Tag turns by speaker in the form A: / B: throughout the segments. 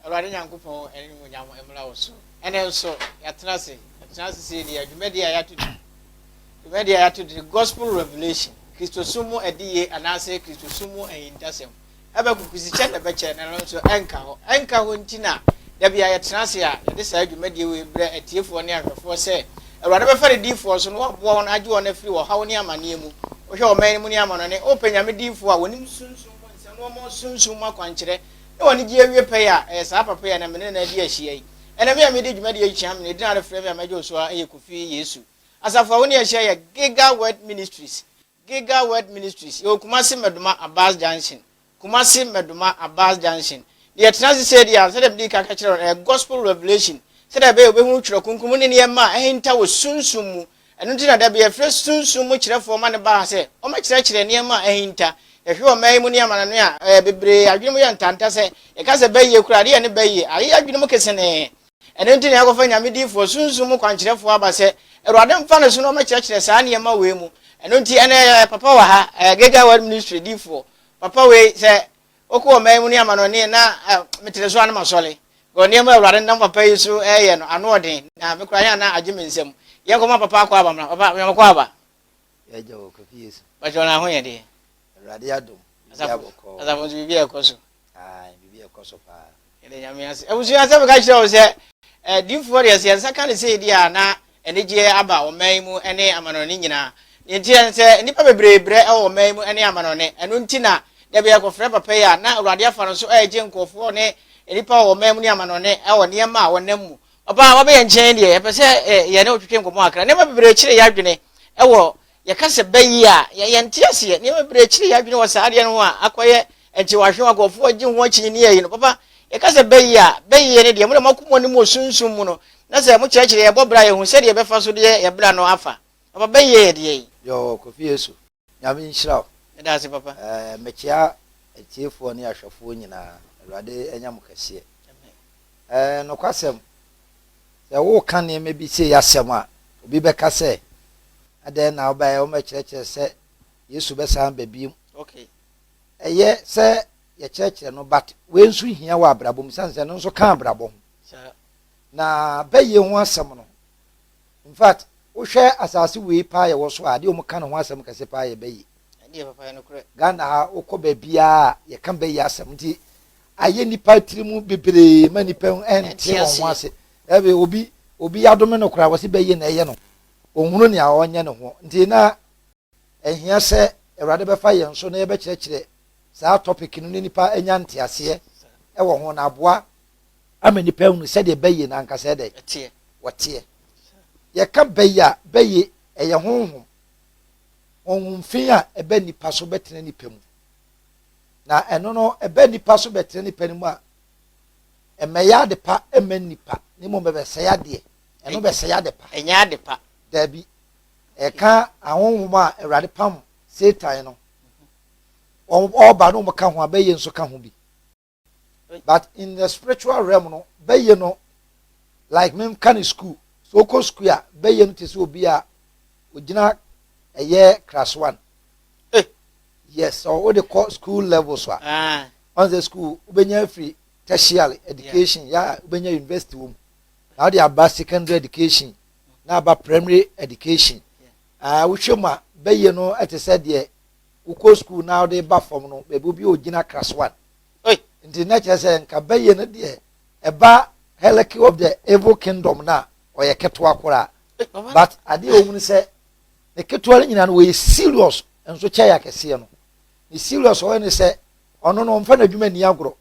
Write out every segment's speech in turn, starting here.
A: awurade nyankopɔn animuonyam mmra wo so ɛnɛ nso yɛatena ase yɛtena ase sɛ yɛdi adwumadi a yɛato di dwumadi a yɛato di gospel revelation kristosom mu adiyie anaasɛ kristosom mu ahintasɛm Habakuk dze kyɛ na ɛbɛkyɛ na ɛno nso ɛnka hɔ. Ɛnka hɔ nti na da bi a yɛtena ase a yɛde saa dwumadie wei brɛ atiefoɔ ne ahwɛfoɔ sɛ Awurade bɛfa ne diyifoɔ so na waboa wɔn agye wɔn afiri ɔhaw ne amaneɛ mu. Wohwɛ ɔman no mu ne amanɔne, wopɛ Nyame diyifoɔ a wɔnim Sunsum mu nsɛm na wɔma wo Sunsum mu akwankyerɛ na wɔn anigyeɛ awie pɛyɛ a, ɛyɛ saa papa yi a na me ne no adi ahyia yi. Ɛnɛ me a medi dwumadie yi kyea me na edin a wode frɛ me a mɛgye wo so ara yɛ Kofi Yesu. Asafo a wo ne yɛn ahyia yɛ Giga Word Ministries. Giga Word Ministries, yɛwɔ Kumasi Medoma Abas Junction, Kumasi Medoma Abas Junction. Na yɛtena ase seesei a, sɛdeɛ medii kan ka kyerɛɛ wo no, ɛyɛ Gospel Revelation, sɛdeɛ ɛbɛyɛ a wobɛhunu Twerɛ Kronkron mu ne nneɛma a ahinta wɔ sunsum mu. Ɛno nti na da bi yɛfrɛ sunsum mu kyerɛfoɔ ma no ba ha sɛ wɔmmɛkyerɛkyerɛ nneɛma a ahinta. Yɛhwɛ wɔ mmaa yi mu ne amanɔne a, ɛɛ, bebree adwene mu yɛ ntanta sɛ, yɛka sɛ bɛyie koraa a, ɛdeɛ yɛne bɛyie ayeyɛ adwene mu kesenee. Ɛno nti na yɛakɔfa Nyame diyifoɔ, Sunsum mu kwankyerɛfoɔ aba sɛ, Awurade mfa ne so na ɔmɛkyerɛkyerɛ saa nneɛma wei mu. Ɛno nti, ɛnnɛ yɛwɔ yɛ papa wɔ ha, ɛyɛ Gilgal Word Ministry diyifoɔ. Papa wei, sɛ wokɔ ɔman yi mu ne amanɔneɛ na metere so a na masɔre. Because nneɛma a Awurade nam papa yi so reyɛ no, ano ɔden, na me koraa yɛ a na agye me nsam. Yɛnkɔma papa akɔ aba mmra. Papa, Nyame kɔ aba. yɛagya wɔ
B: Kofi Yesu. Bàtchɛ ɔno aho yɛ deɛ.
A: Awurade adom.
B: Biribi abɔkɔ. Asafo nso
A: biribi ɛkɔ so. Ayi biribi ɛkɔ
B: so paa. Yɛde nyame ase.
A: Abusua sɛ meka kyerɛ wo sɛ eh, diifoɔ deɛ sɛ yɛn nsa ka ne sɛ ɛdi a na anigyeɛ aba ɔman yi mu ne amanɔne nyinaa. Deɛ nti yɛn sɛ nnipa bebree brɛ wɔ ɔman yi mu ne amanɔne. Ɛno nti na da bi yɛkɔfrɛ papa yi a na Awurade afa no so ɛregye nkurɔfoɔ ne nnipa wɔ ɔman mu ne amanɔne wɔ nneɛma a wɔnam mu. Ɔbaa a wabɛ yɛn nkyɛn deɛ, yɛpɛ sɛ ɛ, yɛne wo twetwe nkɔmmɔ kakra. Nneɛma bebree kyere yɛn adwene wɔ, yɛka sɛ bɛ yi a, yɛ, yɛnte aseɛ. Nneɛma bebree kyere yɛn adwene wɔ saa adeɛ no ho a akɔyɛ nkyewahwe a nkurɔfoɔ agye ho akyinnyeɛ yi no. Papa, yɛka sɛ bɛ yi a, bɛ yi no deɛ, mo deɛ moako mo anim wɔ sunsum mu no, na sɛ mokyerɛkyerɛ yɛn bɔ bra a, yɛhu sɛdeɛ yɛbɛfa so deɛ yɛn bra no afa. Papa, bɛ yi yɛ deɛn? Yɔɔ, Kofi Yesu.
B: Nyame nhyira wo. Meda ase papa. Ɛɛ
A: mekyea
B: atiefoɔ ne ahwɛfoɔ nyinaa. Awurade anya mo kɛseɛ. Ɛɛ nokwasɛm, sɛ woreka nneɛma bi sei asɛm a, obi bɛka sɛ, adɛn na wobaeɛ wɔmɛkyerɛkyerɛ sɛ Yesu bɛsan ba bio. Okay.
A: Ɛyɛ
B: sɛ yɛkyerɛkyerɛ no but wei nso hia wɔ abrabɔ mu sane sɛ ɛno nso ka abrabɔ ho. Saa. Na bɛyie ho asɛm no, Infact, wohwɛ asase wei paa yɛwɔ so a, adeɛ a wɔka no ho asɛm kɛse paa yɛ bɛyi. Ɛne yɛ papa yɛ nokorɛ.
A: Ghana ha, wokɔ
B: baabiara a, yɛka bɛyi asɛm. Nti ayɛ nnipa tiri mu bebree ma nnipa nte wɔn ho ase. Ɛbi, obi, obi yɛadome no koraa, wɔse bɛyi na ɛyɛ no. Ɔnhunu nea ɔnyɛ ne ho. Nti na Ɛhia sɛ Awurade bɛfa yɛn so na yɛbɛkyerɛkyerɛ saa topic no na nnipa anya nteaseɛ wɔ ho na aboa ama nnipa ahunu sɛdeɛ bɛyɛ no ankasa yɛ dɛn Ɛteɛ. wɔteɛ. Yɛka bɛyɛ a, bɛyɛ ɛyɛ honhom, honhom fi a ɛba nnipa so bɛtena nnipa mu. Na ɛno no ɛba nnipa so bɛtena nnipa no mu a, ɛmmɛyɛ ade pa mma nnipa, na mmom ɛbɛsɛe adeɛ. Ɛno bɛsɛe ade pa. Ɛnyɛ ade pa.
A: Daabi.
B: Ɛka ahonhom a Awurade pam Satan no, wɔn ɔba no wɔn ka ho a bɛyɛ nso ka ho bi. But in the spiritual realm no, bɛyɛ no like me ka ne school. So okɔ school a bɛyɛ no te sɛ obi a ogyina ɛyɛ class one. Eh. Yes, so wode kɔ school level so a. Ah. Once the school wobɛnya afiri tertiary education yeah. yɛ a wobɛnya university wɔ mu. Na wode aba secondary education na aba primary education. Ɛɛ, wohwɛ mu a, bɛyɛ no te sɛ deɛ wokɔ sukuu na wode ba fam no, baabi obi a ɔgyina class one. Oi, nti na kyerɛ sɛ nka bɛyɛ no deɛ ɛba hierarchy of the evil kingdom no a, ɔyɛ ketewa koraa. But adeɛ a wɔhunu sɛ ne ketewa no nyinaa no wɔyɛ serious nso kyɛe akɛseɛ no. Ne serious ɔyɛ ne sɛ ɔno no ɔmfa n'adwuma nni agorɔ.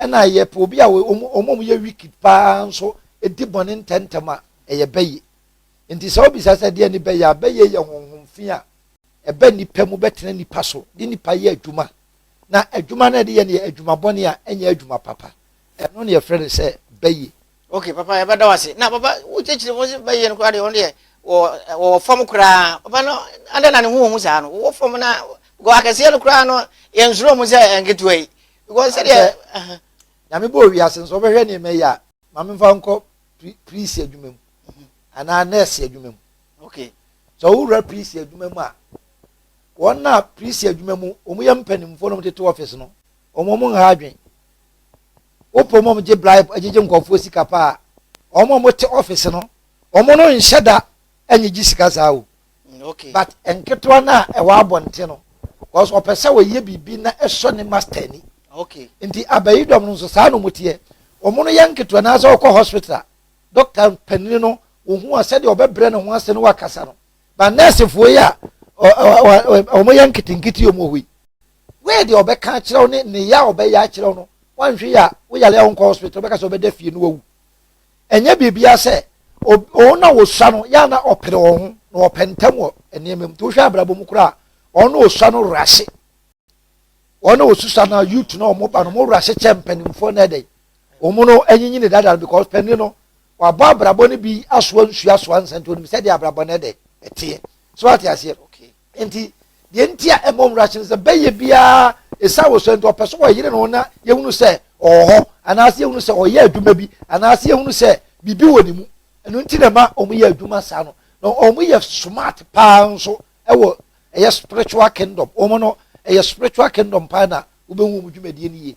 B: ɛna yɛpɛ obi a wɔn a wɔyɛ wicked paa nso di bɔne ntɛmntɛm a ɛyɛ bɛyɛ nti sɛ wobisa sɛ deɛ ne bɛyɛ a bɛyɛ yɛ honhom fi a ɛbɛ nipa mu bɛtena nipa so de nipa yɛ adwuma na adwuma no ɛde yɛ no yɛ adwuma bɔne a ɛnyɛ adwuma papa ɛno ne yɛfrɛ no sɛ bɛyɛ ok papa yɛbɛda
A: wase na papa wokyekyere mu sɛ bɛyɛ no koraa deɛ ɔno deɛ wɔwɔ fam koraa papa no adɛ na ne ho wɔ mu saa no wɔwɔ fam na akɛseɛ no koraa no yɛnsuro mu sɛ nketewa yi because sɛdeɛ nyame bɔ
B: owiase nso ɔbɛhwɛ nneɛma yi a maame nfa nkɔ priest adwuma mu anaa nurse adwuma mu okay sɛ
A: ɔwura
B: priest adwuma mu a wɔn na priest adwuma mu wɔn yɛ mpanimfoɔ na wɔn tete office no wɔn wɔn nha adwen wopɔ mu wɔn gye bribe agyegye nkɔfoɔ sika paa wɔn a wɔte office no wɔn no nhyɛ da ɛnyɛ gye sika saa o. but
A: nketewa
B: no a ɛwɔ abɔnten no because ɔpɛ sɛ ɔyɛ biribi na ɛsɔ ne master ani nti
A: abayi dɔm
B: no nso saa na wɔteɛ wɔn no yɛ nketewa na sɛ ɔkɔ hospital a doctor panini no wɔhu a sɛdeɛ ɔbɛbrɛ ne ho ase no wakasa no ba nɛɛsefoɔ yi a wɔn yɛ nketenkete wɔn wɔ hɔ yi wei deɛ ɔbɛka akyerɛ wo ne ne yɛ a ɔbɛyɛ akyerɛ wo no wanhwɛ yɛ a woyare a wonkɔ hospital ɔbɛka sɛ ɔbɛda fie no wawu ɛnyɛ biribiara sɛ wɔn na wɔsua no yɛ na ɔpere wɔn ho na wɔpɛ ntɛm wɔ nneɛma mu nti wohwɛ abrabɔ mu koraa wɔn na wɔsua no werɛ ase wɔn na wɔsusua na youth na wɔn ba no wɔn werɛ ase kyɛ mpanimfoɔ na ɛdɛ wɔn no anyinyini dada no because panin no wabɔ abrabɔ no bi asoa nsua soa nsɛnti onim sɛdeɛ abrabɔ no ɛdɛ ɛteɛ so ate aseɛ nti
A: deɛ
B: nti a ɛmmɔ nwura hye no sɛ bɛyɛ biara ɛsiane wɔ sɛ nti ɔpɛ so wɔyere no na yɛhunu sɛ ɔwɔ hɔ anaasɛ yɛhunu sɛ ɔyɛ adwuma bi anaasɛ yɛhunu sɛ biribi wɔ ne mu ɛno nti na ɛma wɔn yɛ adwuma saa no na wɔn yɛ smart paa nso ɛwɔ ɛyɛ spiritual kingdom wɔn no ɛyɛ spiritual kingdom paa na wobɛhu wɔn dwumadie no yie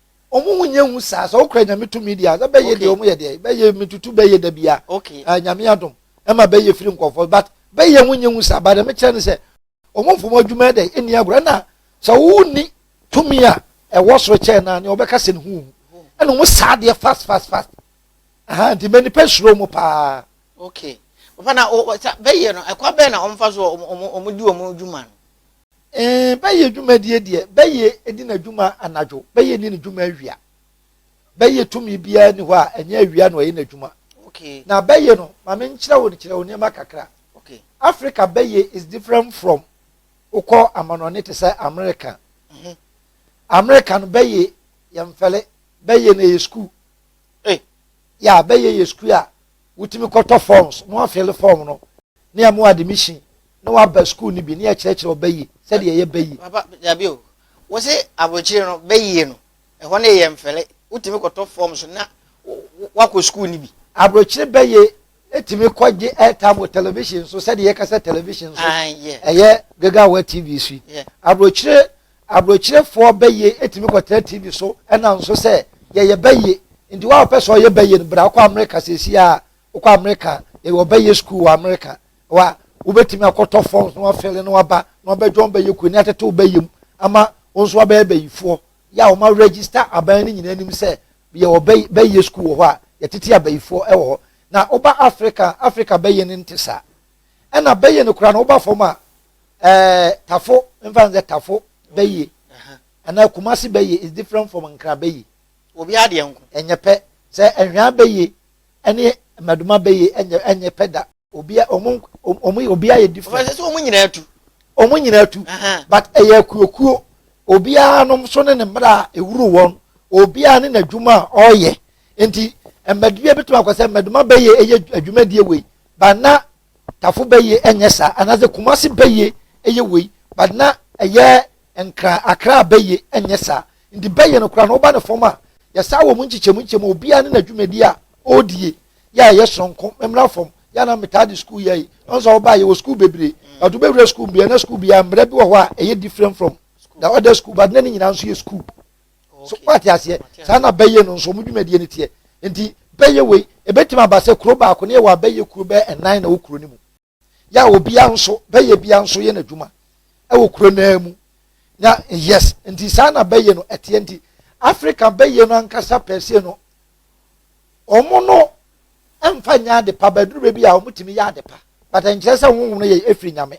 B: ɔmo ho nyɛ hu saa sɛ wokura nyame tumi deɛ sɛ bɛyɛ deɛ ɔmo yɛ deɛ bɛyɛ metutu bɛyɛ da bia okay. uh, nyame adom ɛma bɛyɛ firi nkɔfoɔ but bɛyɛ ho nyɛ hu saa ba dɛ mekyerɛ ne sɛ ɔmo mfom adwuma dɛ ɛni agorɔ ɛna sɛ wonni tumi a ɛwɔ soro kyɛn no a nea wɔbɛka sɛ ne ho hu ɛna ɔmo saa deɛ fast fast fast aha nti mɛ nipa suro mo paa okay
A: papa na bɛyɛ no ɛkwa bɛyɛ na ɔmo fa so ɔmo ɔmo di ɔmo adwuma no Ee,
B: bɛyɛ dwumadie deɛ, bɛyɛ di n'adwuma anadwo, bɛyɛ nni ne dwuma awia. Bɛyɛ tumi biara ni hɔ a ɛnyɛ awia na ɔyɛ n'adwuma. Okay. Na bɛyɛ
A: no, ma
B: me nkyerɛ wo kyerɛ wo nneɛma kakra. Okay. Africa
A: bɛyɛ
B: is different from wokɔ amanɔne te sɛ America. Mm -hmm. America no bɛyɛ yɛ mfɛle, bɛyɛ na yɛ sukuu. Hey. Eh. Ya bɛyɛ yɛ sukuu a wotumi kɔtɔ forms, mo afɛle form no, ne ɛmo admission. na waba sukuu no bi na yɛkyerɛkyerɛ wo bɛyie sɛdeɛ ɛyɛ bɛyie. papa dabi o
A: wo se aburokyire no bɛyie no ɛhɔ no yɛ mfɛlɛ wotumi kɔtɔ fɔm so na wakɔ sukuu no bi. aburokyire bɛyie
B: etumi kɔ gye airtime wɔ television so sɛdeɛ yɛka sɛ television so ah, ɛyɛ gagawa tv so yi aburokyire aburokyerefoɔ bɛyie etumi kɔtena tv so ɛnam so sɛ yɛyɛ bɛyie nti wɔn a wɔpɛ sɛ ɔyɛ bɛyie no bra kɔ amerika sɛsi a wokɔ amerika yɛwɔ bɛyie sukuu wɔ amerika wa wobɛtumi akɔtɔ forms na wafɛle na waba na wabɛdwa wɔn bɛyɛ kuo ne atete wo bɛyɛ mu ama wɔn nso wabɛyɛ bɛyifoɔ yɛ a wɔn register aban no nyinaa anim sɛ yɛwɔ bɛyɛ sukuu wɔ hɔ a yɛtete abayifoɔ wɔ hɔ na woba Africa Africa bɛyɛ no nte saa ɛna bɛyɛ no koraa na woba fam a ɛɛ tafo mfa nsɛ tafo bɛyɛ anaa kumasi bɛyɛ is different from nkra bɛyɛ obi adeɛ nko
A: ɛnyɛ pɛ sɛ
B: ɛhwɛn bɛyɛ ɛne mmadoma bɛyɛ ɛnyɛ ɛnyɛ pɛ da. obia ɔmo ɔmo obia yɛ different. ɔfɛ sɛ ɔmo nyinaa tu.
A: ɔmo nyinaa tu
B: but ɛyɛ akuokuo obiara nom so ne ne mmerɛ a ɛwuru wɔn obiara ne n'adwuma a ɔreyɛ nti mmadibia bɛtumi akɔ sɛ mmaduma bɛyɛ ɛyɛ adwumadie wei but na tafo bɛyɛ ɛnyɛ saa anaasɛ kumase bɛyɛ ɛyɛ wei but na ɛyɛ nkra akra bɛyɛ ɛnyɛ saa nti bɛyɛ no kora no woba ne fam a yɛsaa wɔ mu nkyekyɛmu nkyekyɛmu obiara ne n'adwumadie a ɔredie yɛ a ɛyɛ soronko mmra fam yɛ a na metaa de sukuu yɛ yi ɔn sɛ ɔbaa yɛ wɔ sukuu bebree mm. but wobɛwura sukuu bia na sukuu bia mmerɛ bi wɔ hɔ a ɛyɛ different from the other school but na ne nyinaa nso yɛ sukuu so wate aseɛ saa na bɛyɛ no nso ɔmo dwumadie no teɛ nti bɛyɛ wei ebɛtumi aba sɛ kuro baako ne yɛ wɔ abɛyɛ kuro bɛyɛ ɛnan na wɔ kuro no mu yɛ a obiara nso bɛyɛ biara nso yɛ n'adwuma wɔ kuro no ara mu na yes nti saa na bɛyɛ no ɛteɛ nti africa bɛyɛ no ankasa pɛsie no wɔn no mfa nyɛ ade pa bɛduru baabi a wɔtumi yɛ ade pa but nkyerɛ sɛ honhom no yɛ efiri nyame.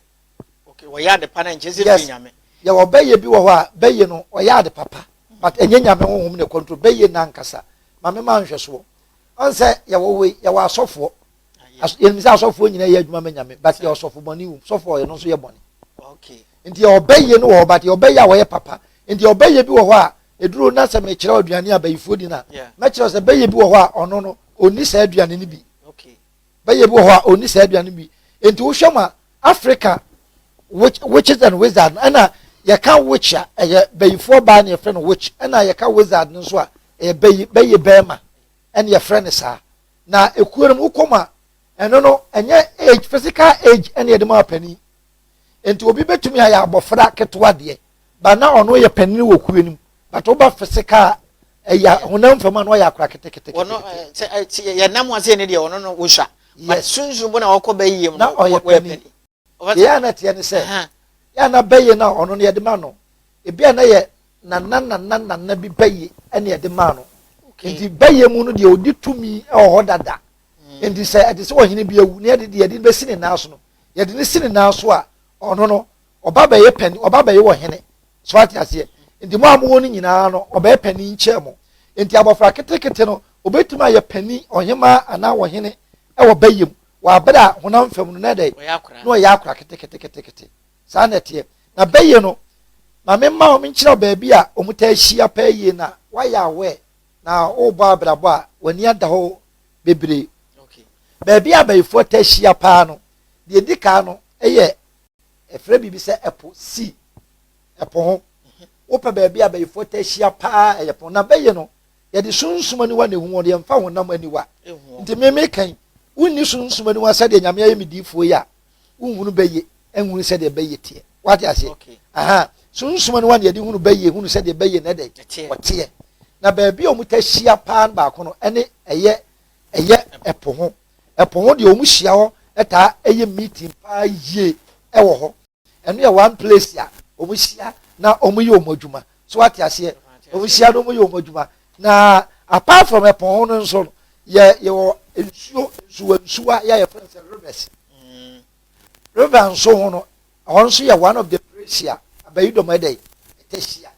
B: okay wɔyɛ ade
A: pa na nkyerɛ sɛ efiri nyame. yɛ wɔ bɛyɛ bi wɔ
B: hɔ a bɛyɛ no ɔyɛ ade papa but ɛnyɛ nyame honhom na control bɛyɛ no ankasa maame ma nhwɛsoɔ ɔn sɛ yɛwɔ wei yɛwɔ asɔfoɔ. yɛnim sɛ asɔfoɔ nyina yɛ adwuma ma nyame but yɛ ɔsɔfo bɔne wom sɔfoɔ ɔyɛ no nso yɛ bɔne nti
A: yɛ ɔbɛyie
B: no wɔ hɔ but yɛ ɔbɛyie a wɔyɛ papa nti ɔbɛyie bi wɔ hɔ a ɛduro na sɛ mekyerɛ aduane a bayifoɔ di no a mɛkyerɛ sɛ bɛyie bi wɔ hɔ a ɔno no ɔnni saa aduane no bi bɛyie
A: bi wɔ hɔ a
B: ɔnni saa aduane no bi nti wohwɛ mu a africa witches and wizard ɛna yɛka witch a ɛyɛ bayifoɔ baa na yɛfrɛ no witch ɛna yɛka wizard no nso a ɛyɛ bɛyɛ bɛrima ɛna yɛfrɛ no saa na ekuo no mu wokɔ mu a ɛno no ɛnyɛ age physical age ɛna yɛde ma panin nti obi betumi ayɛ abɔfra ketewa deɛ ba na ɔno yɛ panin wɔ kuo no mu bàtà ɔba physical ɛyɛ eh, honam fam a na ɔyɛ akora ketekete. wɔn ɛɛ
A: yɛ nam ase ne deɛ ɔno no wosua. yes sunsun bo na ɔkɔ bɛ yie mu na ɔyɛ panin.
B: Deɛ a na ɛteɛ ne sɛ, yɛ a na bɛyɛ no a ɔno no yɛde ma no. Ebi a na yɛ nana nana nana bi bɛyɛ ɛna yɛde maa no. Nti bɛyɛ mu no deɛ ɔdi tumi wɔ hɔ dada. Hmm. Nti sɛ ɛte sɛ ɔhene bi awu na yɛde deɛ yɛde bɛsi ne nan so no, yɛde ne si ne nan so a ɔno no ɔba bɛyɛ pɛni ɔba bɛyɛ wɔ hene so ate aseɛ. Nti mo a mowɔ no nyinaa no ɔbɛyɛ pɛni nkyɛn mo. Nti abɔfra ketekete no obetumi ayɛ pɛni ɔhemaa anaa ɔhene wɔ bɛyɛ mu. wɔ aber a honam famu no, na dɛn? Na ɔyɛ akora keteketekete. Saa na ɛteɛ. Na bɛyɛ no, ma memma hom nkyerɛw beebi a wɔtaa hyia paa yie na wɔayɛ aware na wɔrebɔ abrabɔ a wɔn ani ada hɔ bebree. Beebi a abayifoɔ taa hyia paa no, deɛ edi kan no yɛ ɛfrɛ biribi sɛ ɛpo, sea, ɛpo ho. Wopɛ beebi a abayifoɔ taa hyia paa ɛyɛ po. Na bɛyɛ no, yɛde sunsum aniwa na ehu wɔn yɛmfa honam aniwa nti mmemme kan wonni sunsum aniwa sɛdeɛ nyame ayɛ me diifoɔ yi a wonhunu bɛyɛ nhunu sɛdeɛ bɛyɛ teɛ wate aseɛ aha sunsum aniwa na yɛde hunu bɛyɛ hunu sɛdeɛ bɛyɛ na ɛdɛ wɔteɛ na baabi a wɔn ta hyia paa no baako no ɛne ɛyɛ ɛyɛ ɛpo ho ɛpo ho deɛ wɔn hyia hɔ ɛtaa ɛyɛ meeting paa yie ɛwɔ hɔ ɛno yɛ one place a wɔn hyia na wɔn yɛ wɔn adwuma so ate aseɛ wɔn hyia na wɔn yɛ wɔn adwuma na apart from ɛpɔn ho no nso no yɛ yɛwɔ nsuo nsuwa nsuwa yɛ yɛ fɛn sɛ rivers mm. river nso ho no ɛhɔ nso yɛ one of the place a abayi dɔm ɛdɛ yi ɛtɛ hyia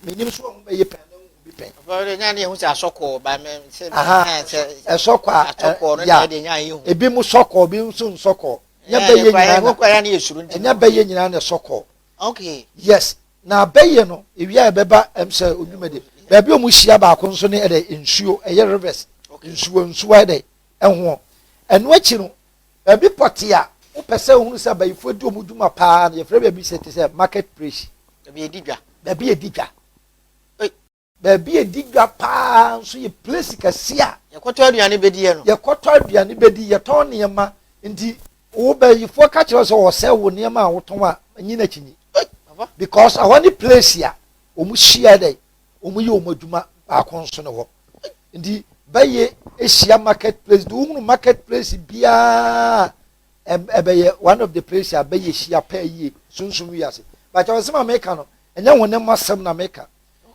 B: menim so wɔn bɛyɛ pɛn na wɔn bi pɛn. ɔfɔwɔde nyaa ne ehu sɛ
A: asɔkɔɔ ba mɛ sɛ ɛsɔkɔɔ
B: a ɛsɔkɔɔ no na ɛde nyaa ehu. ebi mu sɔkɔɔ ebi nso nsɔkɔɔ. ɛnyɛ bɛyɛ nyinaa na ɛnyɛ bɛyɛ nyinaa na ɛsɔ kɔ okay yes
A: na
B: bɛyɛ no ewia ɛbɛba ɛm sɛ onwuma de baabi a wɔn hyia baako nso ne ɛdɛ nsuo ɛyɛ rivers nsuo nsuo ɛdɛ ɛho ɛno akyi no baabi pɔte a wopɛ sɛ ohun sɛ abayifoɔ di wɔn dwuma paa na yɛfrɛ baabi sɛ te sɛ market place baabi yɛ di dwa baabi yɛ di dwa. Baabi a ɛdi dwa paa nso yɛ plesi kɛseɛ a. Yɛkɔtɔ aduane bɛdiiɛ
A: no. Yɛkɔtɔ aduane bɛdi, yɛtɔn
B: nneɛma nti wo bayifoɔ ka kyerɛ wo sɛ wɔsɛe wo nneɛma a wotɔn a, nyi no akyinnye because ɛhɔ ne plesi a wɔhyia dɛn, wɔyɛ wɔn adwuma baako nso ne hɔ. Nti bɛyɛ ahyia market place de wohunu market place biara ɛbɛyɛ one of the place a bɛyɛ hyia paa yie sunsum wiase. Bakyɛ wɔn sɛ ma meka no, ɛnyɛ wɔn ne mo asɛm na meka.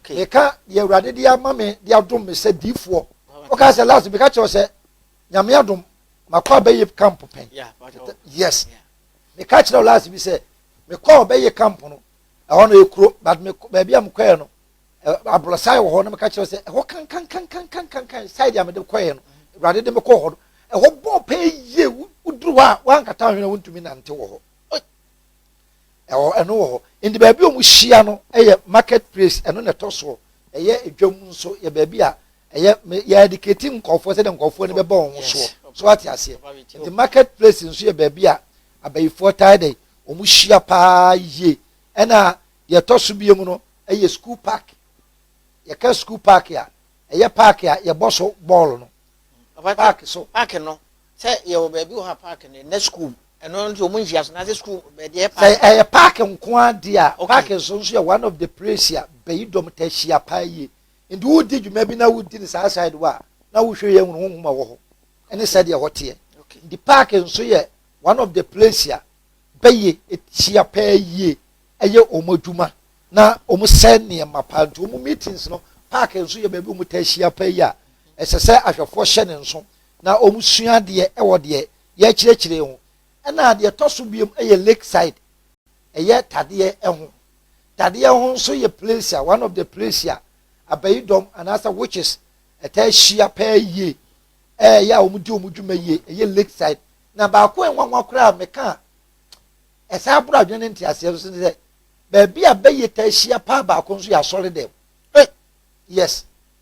B: meka deɛ awurade de ama me de adom me sɛ diifoɔ woka sɛ last meka kyerɛ sɛ nyame adom makɔ abɛyɛ camp pɛn yes meka kyerɛ last bi sɛ mekɔ ɔbɛyɛ camp no ɛhɔ no ɛkuro but baabi a mekɔɛ no aborɔsan wɔ hɔ no meka kyerɛ sɛ ɛhɔ kankankankankankan side a mede kɔɛ no awurade de mekɔ hɔ no ɛhɔ bɔɔ pɛɛ yie woduru hɔ a woankata hwene wontumi nante wɔ hɔ ɛwɔ ɛno wɔ hɔ nti baabi a wɔhyia no yɛ market place ɛno na ɛtɔ soɔ ɛyɛ edwam nso yɛ baabi a ɛyɛ yɛ adikati nkɔfoɔ sɛdeɛ nkɔfoɔ no bɛbɔ wɔn soɔ so ate aseɛ nti market place nso yɛ baabi a abayifoɔ taa dɛ wɔn hyia paa yie ɛna deɛ ɛtɔ so bie mu no ɛyɛ school park yɛka school park a ɛyɛ park a yɛbɔ so bɔɔl no park so park no Sɛ
A: yɛwɔ baabi wɔ ha park no na school ɛno nso ɔmo nhyia so n'asɛ school bɛdeɛ park. Sɛ ɛyɛ park
B: nko ara deɛ a okay. park nso nso yɛ one of the place a bɛyi dɔm taa hyia paa yie nti wodi dwuma bi na wodi ne saa side wɔ a na wohwɛ yɛ hunu honhom a wɔ hɔ ɛne sɛdeɛ hɔ teɛ okay. nti park nso yɛ one of the place a bɛyɛ hyia paa yie ɛyɛ wɔn adwuma na wɔn sɛ nneɛma paa nti wɔn meetings no park nso yɛ baabi wɔn taa hyia paa yie a ɛsɛ sɛ ahwɛfoɔ hyɛ ne nso. na wɔsua adeɛ wɔ deɛ yɛrekyerɛkyerɛ ho. Ɛna deɛ ɛtɔ so biom yɛ Lakeside, ɛyɛ tadeɛ ho. Tadeɛ ho nso yɛ place a, one of the place a abayidɔm anaasɛ witches ɛtaa hyia paa yie, ɛyɛ a wɔdi wɔn dwuma yie, ɛyɛ Lakeside. Na baako a nwanwa koraa a meka a ɛsan aboro adwene ne nteaseɛ nso ne sɛ, baabi a bɛyɛ taa hyia paa baako nso yɛ asɔre dɛm.
A: Yes.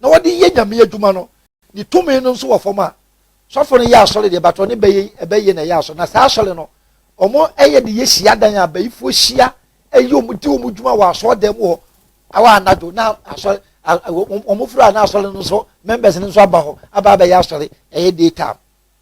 B: na wɔde yɛ Nyame adwuma no, ne tumi no nso wɔ fam a, sɔfo no yɛ asɔre deɛ, but ɔne bɛyɛ ɛbɛyɛ na ɛyɛ asɔre. Na saa asɔre no, wɔn ɛyɛ de yɛ hyiadan a bayifoɔ hyia ɛyɛ wɔn di wɔn dwuma wɔ asɔɔdan mu hɔ awɔ anadwo na asɔre wɔn firi a na asɔre no nso members no nso aba hɔ aba abɛyɛ asɔre ɛyɛ day time.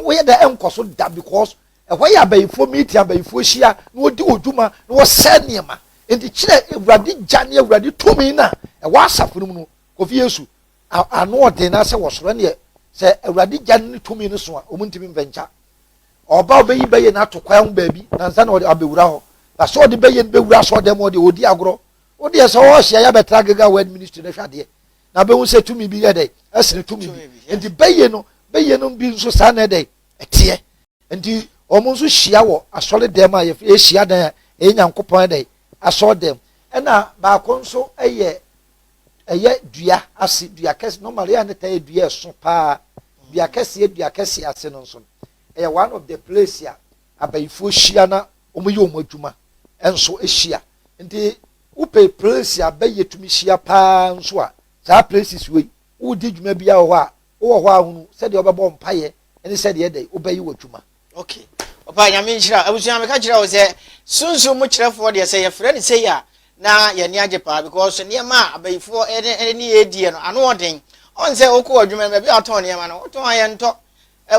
B: woyɛ dɛ ɛnkɔ so da because ɛhɔ yɛ abayifoɔ meeting abayifoɔ hyia na wɔdi wɔn dwuma na wɔsɛe nneɛma nti kyerɛ awurade gya ne awurade tumi no a ɛwɔ asafo no mu no kofi yesu ano ɔden na sɛ wɔsoro ɛneɛ sɛ awurade gya ne tumi no so a wɔn ntumi mfɛnkya ɔba ɔbɛyi bɛyɛ no ato kwan ho baabi nansa na ɔde abɛwura hɔ na sɛ ɔde bɛyɛ no bɛwura sɛ ɔdɛm ɔde ɔdi agorɔ wodeɛ sɛ ɔhyia yɛ abɛtra gega wɔ administration ahwɛ adeɛ na bɛhu sɛ tumi bi yɛ dɛ ɛsene tumi bi nti bɛyɛ no bɛyɛ no bi nso saa na ɛdɛ ɛteɛ nti wɔn nso hyia wɔ asɔre dɛm a yɛfrɛ yɛhyia dan a ɛyɛ nyankopɔn ɛdɛ asɔre dɛm ɛna baako nso ɛyɛ ɛyɛ dua ase dua kɛse normal yɛ a ne ta yɛ dua ɛso paa dua kɛseɛ dua kɛseɛ ase no nso ɛyɛ one of the place a abayifoɔ hyia na wɔyɛ wɔn adwuma nso hyia nti Wopɛ plesi a bɛyɛ tumi hyia paa nso a, saa places wei, woredi dwuma biara wɔ hɔ a, wowɔ hɔ ara hunu sɛdeɛ wobɛbɔ mpaeɛ ne sɛdeɛ ɛdɛn wobɛyɛ w'adwuma. Ok
A: papa nyame nhyira. Abusua meka kyerɛ wo sɛ sunsum mu kyerɛfoɔ deɛ sɛ yɛfrɛ no sei a na yɛani agye paa because nneɛma a abayifoɔ ɛne yɛ diɛ no ano ɔden ɔn sɛ wokɔ adwuma no baabi a ɔtɔn nneɛma no wotɔn a yɛntɔ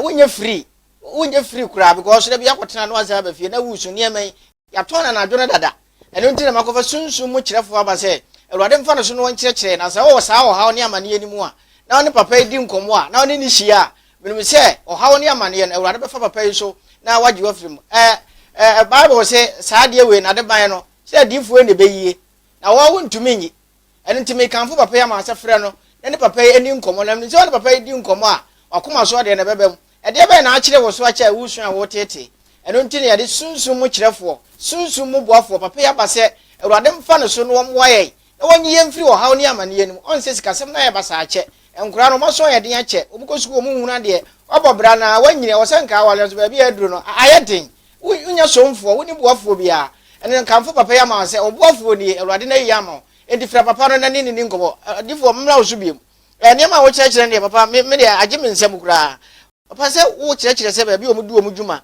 A: wonyɛ free wonyɛ free koraa because da bi akɔtena no asan aba fie na wusu nneɛma yi Yɛatɔn anadwo no dada. Ɛno nti na makɔfa Sunsum mu kyerɛfoɔ aba sɛ Awurade mfa ne so na ɔnkyerɛkyerɛ, na sɛ ɔwɔ saa ɔhaw ne amaneɛ no mu a, na ɔne papa yi di nkɔmmɔ a, na ɔne no hyia a, menim sɛ ɔhaw ne amaneɛ no, Awurade bɛfa papa yi so na wagye wo afiri mu. Ɛ, ɛ, Bible se, saa adeɛ wei, n'adeban no, sɛ adiyifoɔ yi na ɛbɛyie, na wɔn, wontumi nyi. Ɛno nti mekamfo papa yi ama sɛ frɛ no na ne papa yi nni nkɔmmɔ, na menim sɛ wo ne papa yi di nkɔmmɔ a, w'akoma so ɔdeɛ na ɛbɛba mu. Ɛdeɛ bɛn na akyere wo so akyɛ a woresua a woreteetee? Ɛno nti na yɛde Sunsum mu Kyerɛfoɔ, Sunsum mu Boafoɔ, papa yi aba sɛ Awurade mfa no so na ɔmmoa yɛn, na wɔnyi yɛn mfiri ɔhaw ne amaneɛ no mu. Ɔnsɛ sikasɛm no ayɛ basaa akyɛ nkwadaa no, wɔaso ayɛ den akyɛ, wɔkɔ sukuu wɔnhunu adeɛ, wɔabɔ bra na wɔanyini, ɛwɔ sɛ nka awareɛ nso baabi a aduru no ayɛ den, Wonnya somfoɔ, wonni boafoɔ biara. Ɛnna nkamfo papa yi ama wɔn sɛ, Wo boafoɔ nie, Awurade na ayi yɛn ama wo. Enti frɛ papa no na ne ne nni nkɔmmɔ. Ɔdefoɔ, memmra wo so bio. Nneɛma a wokyerɛkyerɛ no deɛ, papa, me me deɛ, agye me nsam koraa. Papa, sɛ wokyerɛkyerɛ sɛ baabi a wɔdi wɔn dwuma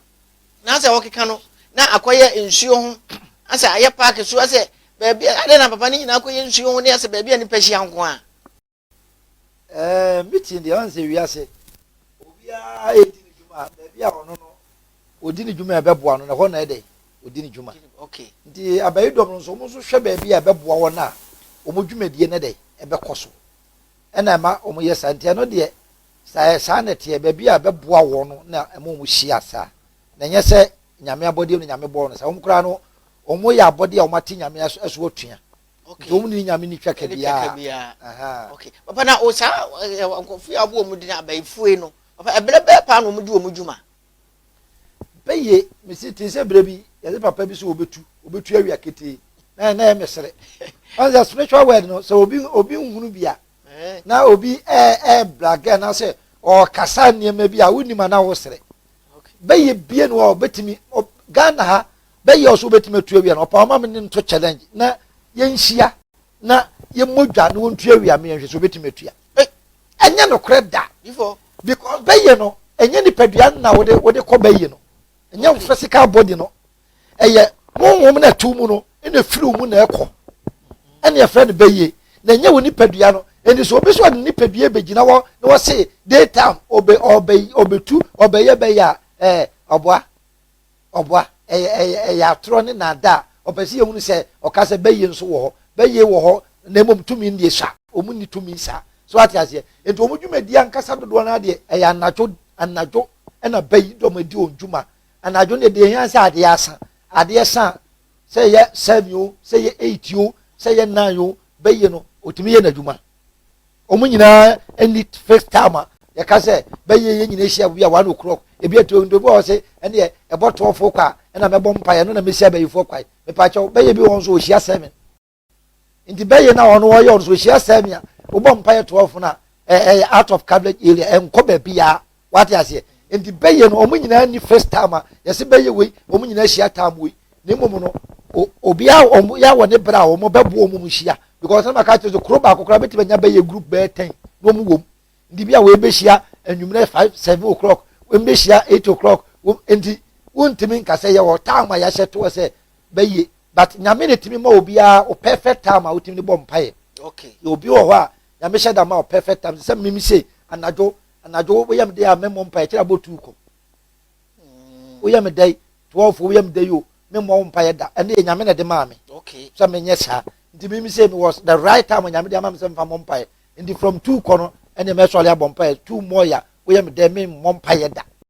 A: no asɛ wɔkeka no na akɔyɛ nsuo ho asɛ ayɛ paake so asɛ baabi a, adɛn na papa ne nyinaa kɔyɛ nsuo ho ne asɛ baabi a nnipa hyia nko ara? Ɛɛ
B: meeting deɛ ɔnsɛ wiase obiara ɛdi ne dwuma baabi a ɔno no ɔdi ne dwuma a ɛbɛboa no na ɛhɔ na ɛdɛ ɔdi ne dwuma nti
A: abayi dɔm
B: no nso wɔn nso hwɛ baabi a ɛbɛboa wɔn a wɔn dwumadie no dɛ ɛbɛkɔ so ɛna ɛma wɔn yɛ saa nti ɛno deɛ saa saa na ɛteɛ baabi a ɛbɛboa wɔn no na ɛma wɔn hyia saa na ɛnyɛ sɛ nyame abɔdeɛ no nyame bɔɔ no saa wɔn koraa no wɔn yɛ abɔdeɛ a wɔn ate nyame ɛso atua Nti wɔn ne nyame ne twa ka biara. Okay.
A: Papa na o saa nkurɔfo yi a wɔbɔ wɔn din abayifue no, papa ɛbrɛ bɛɛ paa na wɔn di wɔn dwuma.
B: Bɛyɛ mesi te sɛ brɛ bi yɛde papa bi so obetu obetu awia ketee na na yɛ mesere. Ɔn sɛ spiritual word no sɛ obi obi nhunu bi a eh. na obi ɛɛ ɛɛ blagɛ na sɛ ɔkasa nneɛma bi a wonim ana wosere. Bɛyɛ bie no a ɔbɛtumi Ghana ha bɛyɛ ɔso wobɛtumi atu awia no ɔpa ɔma me ne nto challenge na yɛnhyia na yɛmmɔ dwa na wɔntu awia me yɛnhwɛ sɛ wobɛtumi atua ɛnyɛ nokorɛ da because
A: bɛyɛ no
B: ɛnyɛ nipadua na wode wode kɔ bɛyɛ no ɛnyɛ wo physical body no ɛyɛ honhom na ɛto mu no ɛna ɛfiri wo mu na ɛkɔ ɛne ɛfrɛ no bɛyɛ na ɛnyɛ wo nipadua no ɛni so obi so ɔde nipadua bɛgyina hɔ na wɔse daytime ɔbɛ ɔbɛ ɔbɛtu ɔbɛyɛ bɛyɛ a ɛɛ ɔboa Ɔboa. Ɛyɛ, ɛyɛ, ɛyɛ atorɔ ne nnaadaa. Ɔpɛ sɛ yɛhunu sɛ Ɔka sɛ bɛyɛ nso wɔ hɔ. Bɛyɛ wɔ hɔ, na mmom tumi ndeɛ sua. Wɔn nni tumi saa. So woate aseɛ? Enti wɔn dwumadie ankasa dodoɔ no ara deɛ, ɛyɛ anadwo, anadwo na bɛ yi dɔm adi wɔn dwuma. Anadwo no deɛ, deɛ ɛhia sɛ adeɛ asa. Adeɛ sa a, sɛ ɛyɛ seven o, sɛ ɛyɛ eight o, sɛ ɛyɛ nine o, bɛ yi no, ɔtumi yɛ n'adwuma. wɔn nyinaa ni fixed time a yɛka sɛ bɛyɛ yɛn nyinaa hyia bi a one o'clock ebi etu ndobi wɔ se ɛneɛ ɛbɔ tɔɔfo kwa ɛna mɛbɔ mpa yɛ no na mehyia bɛyifoɔ kwa mepaakyɛw bɛyɛ bi wɔn so wɔhyia seven nti bɛyɛ na wɔn wɔyɛ wɔn so wɔhyia seven a wobɔ mpa yɛ tɔɔfo na ɛyɛ out of coverage area ɛnkɔ baabi yaa wate aseɛ nti bɛyɛ no wɔn nyinaa ni first time a yɛsi bɛyɛ wei wɔn nyinaa hyia time wei na mmom no obiara wɔn yɛ wɔ ne bere a wɔn bɛbo wɔn mu hyia because ɛna maka kyerɛ sɛ kuro baako koraa bɛtumi anya bɛyɛ group bɛyɛ ten na wɔn wɔm nti bi a wɔn bɛhyia anwummerɛ five seven o'clock wɔn bɛhyia eight o'clock wɔn nti wontumi nkasa yɛ wɔ time a yɛahyɛ toɔ sɛ bɛyɛ but nyame ne tumi ma obiara o perfect time a wotumi de bɔ mpaeɛ okay obi wɔ
A: hɔ a
B: nyame hyɛ da ma o perfect time sɛ mimi se anadwo Anadwo wo yɛ me dɛ a me mmɔ mpaeɛ kyerɛ abɔ tuu kɔ. Wo yɛ me dɛ twelve wo yɛ me dɛ yi o me mmɔ wo mpaeɛ da ɛne yɛ nyame na ɛde maa me. Okay. Sɛ me nyɛ saa nti me mi sɛ me was the right time nyame de ama me sɛ me fa mmɔ mpaeɛ nti from two kɔ no ɛne mɛ sɔre abɔ mpaeɛ two more ya wo yɛ me dɛ me mmɔ mpaeɛ da.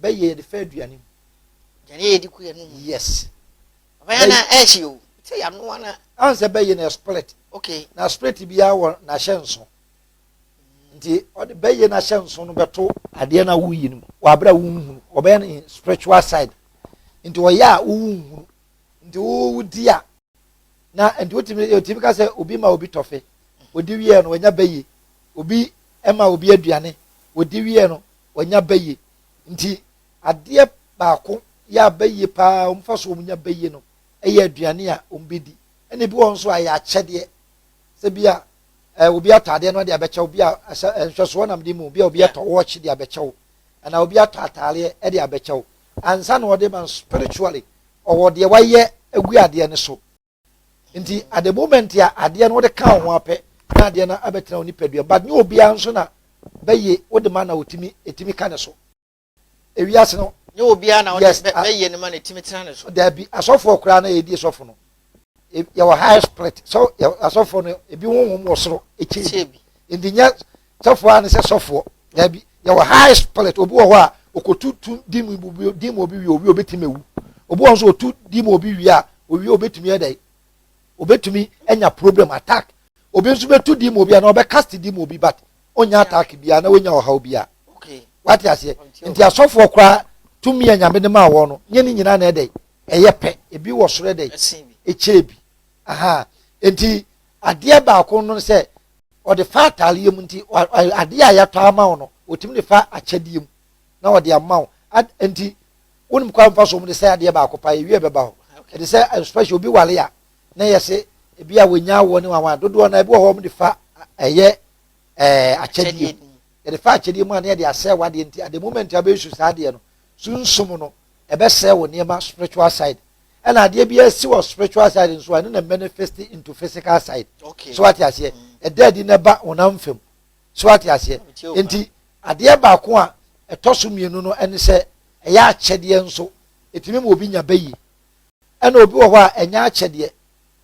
B: bɛyɛ yɛde fa aduane mu aduane yɛ de
A: ku yɛ no mu yes
B: ɔbɛyɛ
A: na ɛhye o sɛ yanoa na an sɛ bɛyɛ na split
B: okay na split
A: biara
B: wɔ n'ahyɛ nso nti ɔde bɛyɛ n'ahyɛ nso no bɛto adeɛ na woyi no mu wɔ abere a wonhunu ɔbɛyɛ no in spiritual side nti ɔyɛ a wonhunu nti wodi a na nti wotumi wotumi ka sɛ obi ma obi tɔfe odi wiɛ no ɔnya bɛyɛ obi ma obi aduane odi wiɛ no wɔnya bɛyɛ nti adeɛ baako yɛ a bɛyɛ paa wɔn fa so wɔn nya bɛyɛ no yɛ aduane a wɔn bɛdi ɛna ebi wɔ nso a yɛ akyɛdeɛ sɛ bi a ɛɛ eh, obi ataadeɛ no de abɛkyɛ obi a ɛsɛ eh, nhwɛsoɔ nam de mu obi a obi atɔ wɔɔkye de abɛkyɛ wo ɛna obi atɔ ataadeɛ de abɛkyɛ wo ansa na ɔde ma spiritually ɔwɔ deɛ wayɛ agu adeɛ no so. nti at the moment a adeɛ no wode ka wo ho apɛ na adeɛ no abɛtena wo nipadua but nyɛ obiara nso na bɛyɛ wode ma na otimi etimi ka ne so ewiase no nyɛ obiara
A: na wode bɛyɛ ne ma na etimi tena ne so daabi asɔfoɔ koraa na
B: yɛdi sɔfo no e, yɛwɔ high split so asɔfoɔ no ebi honhom wɔ soro ekyɛ bi nti nyɛ Sɔfoɔ a ne sɛ sɔfoɔ. Daabi, yɛwɔ high spirit. Obi wɔ hɔ a ɔkɔtu tu di mu obi di mu obi wie owie obɛtumi awu. Obi wɔ hɔ nso ɔtu di mu obi wie a owie obɛtumi ɛdɛn obɛtumi anya problem attack. Obi nso bɛtu di mu obi a na ɔbɛkast di mu obi but ɔnya attack biara na ɔnya ɔhaw biara. Wate aseɛ nti asɔfoɔ koraa tumi a nyame de maa wɔn no nyɛ ne nyinaa na ɛdɛn ɛyɛ pɛ ebi wɔ soro ɛdɛn ɛkyɛɛ bi aha nti adeɛ baako no sɛ ɔde fa ataareɛ mu nti adeɛ a yɛatɔ ama wo no ɔtumi de fa akyɛdeɛ mu na ɔde ama wo nti wonim kwan mfa so mu de sɛ adeɛ baako pa yɛwie bɛba hɔ ɛde sɛ especially obi wale a na yɛse ebi a wɔnya awoɔ ne wawa dodoɔ na ebi wɔ hɔ wɔn de fa ɛyɛ ɛɛ akyɛdeɛ mu yɛde fa akyɛdeɛ mu a na yɛde asɛ wadeɛ nti at the moment a bɛyɛ su saa adeɛ no sunsum no ɛbɛsɛe wo nneɛma spiritual side ɛna adeɛ bi asi wɔ spiritual side nso a ɛno na manifest into physical side okay. so ate aseɛ ɛda adi na ɛba honam fam so ate aseɛ nti adeɛ baako a ɛtɔ so mmienu no ɛne sɛ ɛyɛ akyɛdeɛ nso ɛtumi ma obi nya bɛyie ɛna obi wɔ hɔ a ɛnyɛ akyɛdeɛ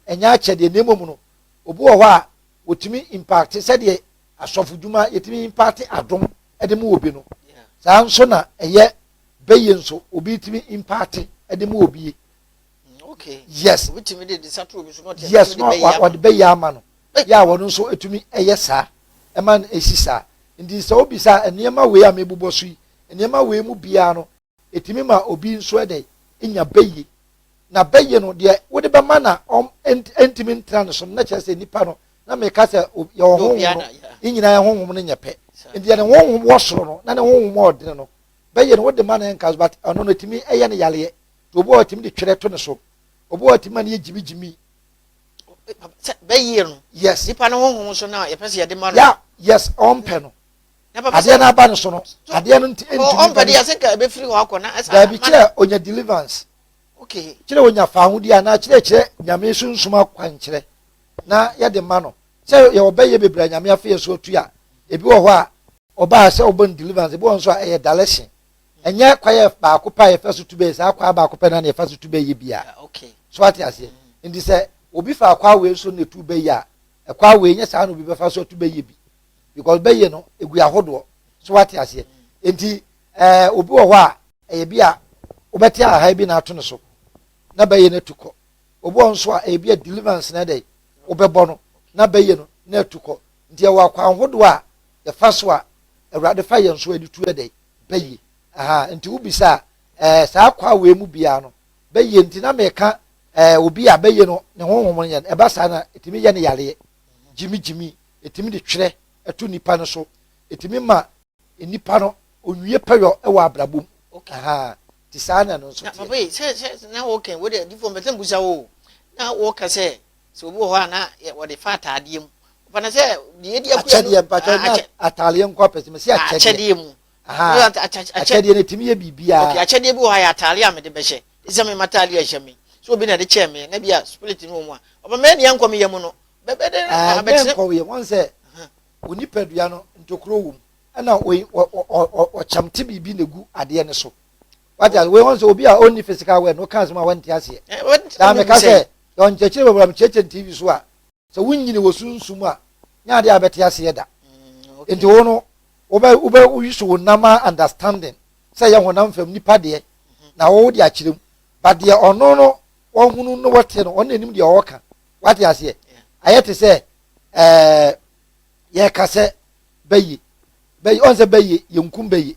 B: ɛnyɛ akyɛdeɛ na mmom no obi wɔ hɔ a wɔtumi impact sɛdeɛ asɔfodwuma yɛtumi impact adom de mu obi no saa nso na ɛyɛ bɛyɛ nso obi tumi impaate ɛde mu obi okay yes obi tumi de de satoro bi so na ɔte yes na ɔde bɛyɛ ama no yɛ a wɔn nso etumi ɛyɛ saa ɛma no esi saa nti sɛ obi saa nneɛma wei a mebobɔ so yi nneɛma wei mu biara no etumi ma obi nso ɛdɛ nya bɛyɛ na bɛyɛ no deɛ wode bɛma na ɔm ɛntumi ntena ne so no na kyerɛ sɛ nipa no na meka sɛ yɛ ɔhonhom no ne nyinaa yɛ honhom no nyɛ pɛ nti yɛ ne honhom wɔ soro no na ne honhom a ɔdene no bɛyɛ no wode ma no ɛnka so but ɛno no ɛtumi ɛyɛ no yareɛ nti obi wɔ ɛtumi de twerɛ to ne so obi wɔ ɛtumi ma no yɛ gyimi gyimi sɛ
A: bɛyie no yes nipa no honhom
B: so na
A: yɛpɛ sɛ yɛde ma no ya yes ɔmpɛ
B: no adeɛ no aba no so no adeɛ no nti ɛntumi ɔmpɛ de yɛsɛ nka
A: ɛbɛfiri hɔ akɔ na ɛsa daabi kyerɛ onya
B: deliverance okay kyerɛ
A: onya fa ho di
B: anaa kyerɛ kyerɛ nyame sunsum akwankyerɛ na yɛde ma no sɛ yɛwɔ bɛyɛ bebree nyame afei yɛ so atu a ebi wɔ hɔ a Ɔbaa sɛ ɔbɔ no deliverance, ebi wɔ hɔ nso a ɛyɛ dalɛhye. Ɛnyɛ kwae a baako pɛ a yɛfa so tu bɛ, saa kwae baako pɛ no ara na yɛfa so tu bɛ yɛ bi a. So ate
A: aseɛ?
B: Nti sɛ obi faa kwae wei so na etu bɛ yɛ a, ɛkwae wei nyɛ saa na obi bɛfa so atu bɛ yɛ bi. Because bɛ yɛ no, egu ahodoɔ. So ate aseɛ? Nti ɛɛ obi wɔ hɔ a, ɛyɛ bi a wobɛte a ahae bi na ato ne so na bɛ yɛ no atu kɔ. Obi wɔ hɔ nso a ɛyɛ bi a deliverance na ɛdɛ wobɛbɔ no na bɛ yɛ no na atu kɔ. Nti ɛwɔ akwan hodoɔ a yɛfa so a Awurade fa yɛn so anitu yɛ dɛn? Bɛyɛ. Aha, nti wobisa a, ɛɛ, saa kwa wei mu biara no, bɛyɛ nti na meka ɛɛ, obi a bɛyɛ no ne honhom no yɛn, ɛba saa na ɛtumi yɛ ne yareɛ, gyimigyimi, ɛtumi de twerɛ ɛto nipa no so, ɛtumi ma nipa no onwie pɛyɔ ɛwɔ abrabɔ mu. Okay. Aha, ti saa na ɛno nso teɛ. Na papa yi, sɛ, sɛ,
A: na wɔka, wɔde adifoɔ mpɛsɛ mbusa wo, na wɔka sɛ, Sɛ obi wɔ hɔ a na wɔde fa ataadeɛ mu. Wɔfa no sɛ deɛ yɛdi akuya no. Akyɛdeɛ mpakyɛ na
B: ataadeɛ nkɔ apɛ sɛ mesi akyɛdeɛ. Akyɛdeɛ mu.
A: Akyɛdeɛ
B: no ɛtumi yɛ biribiara. Okay akyɛdeɛ bi wɔ hɔ a yɛ
A: ataadeɛ a mede bɛhyɛ. Ɛsɛ me mataadeɛ a ɛhyɛ me. So obi na ɛde kyɛɛ me na bi a spirit no wɔ mu a. Ɔba mɛ ni ɛnkɔ me yɛ mu no. Bɛbɛ dɛ na abɛte. Ɛnkɔ wo yɛ
B: wɔn sɛ wo nipadua no ntokuro wɔ mu ɛna ɔkyɛmte biribi na egu adeɛ no so. Wate ase? Wei wɔn sɛ obi a ɔnni physical word na ɔka asɛm a wɔnte aseɛ. Daa meka sɛ, yɛwɔ nkyerɛkyerɛ bebree a mekyerɛkyerɛ no TV so a, sɛ wonnyini wɔ sunsum a, nyɛ adeɛ a bɛte aseɛ da. Enti wo no, wobɛ, wobɛ, wo use wo nam a understanding sɛ ɛyɛ honam fam nipa deɛ na wo wode akyerɛ mu. But deɛ ɔno no wɔhunu no wɔte no, ɔno na ɛnim deɛ ɔɔka. Wate aseɛ? Ayɛ te sɛ, ɛɛ, yɛka sɛ bɛye, bɛye, ɔn sɛ bɛye, yɛnkum bɛye.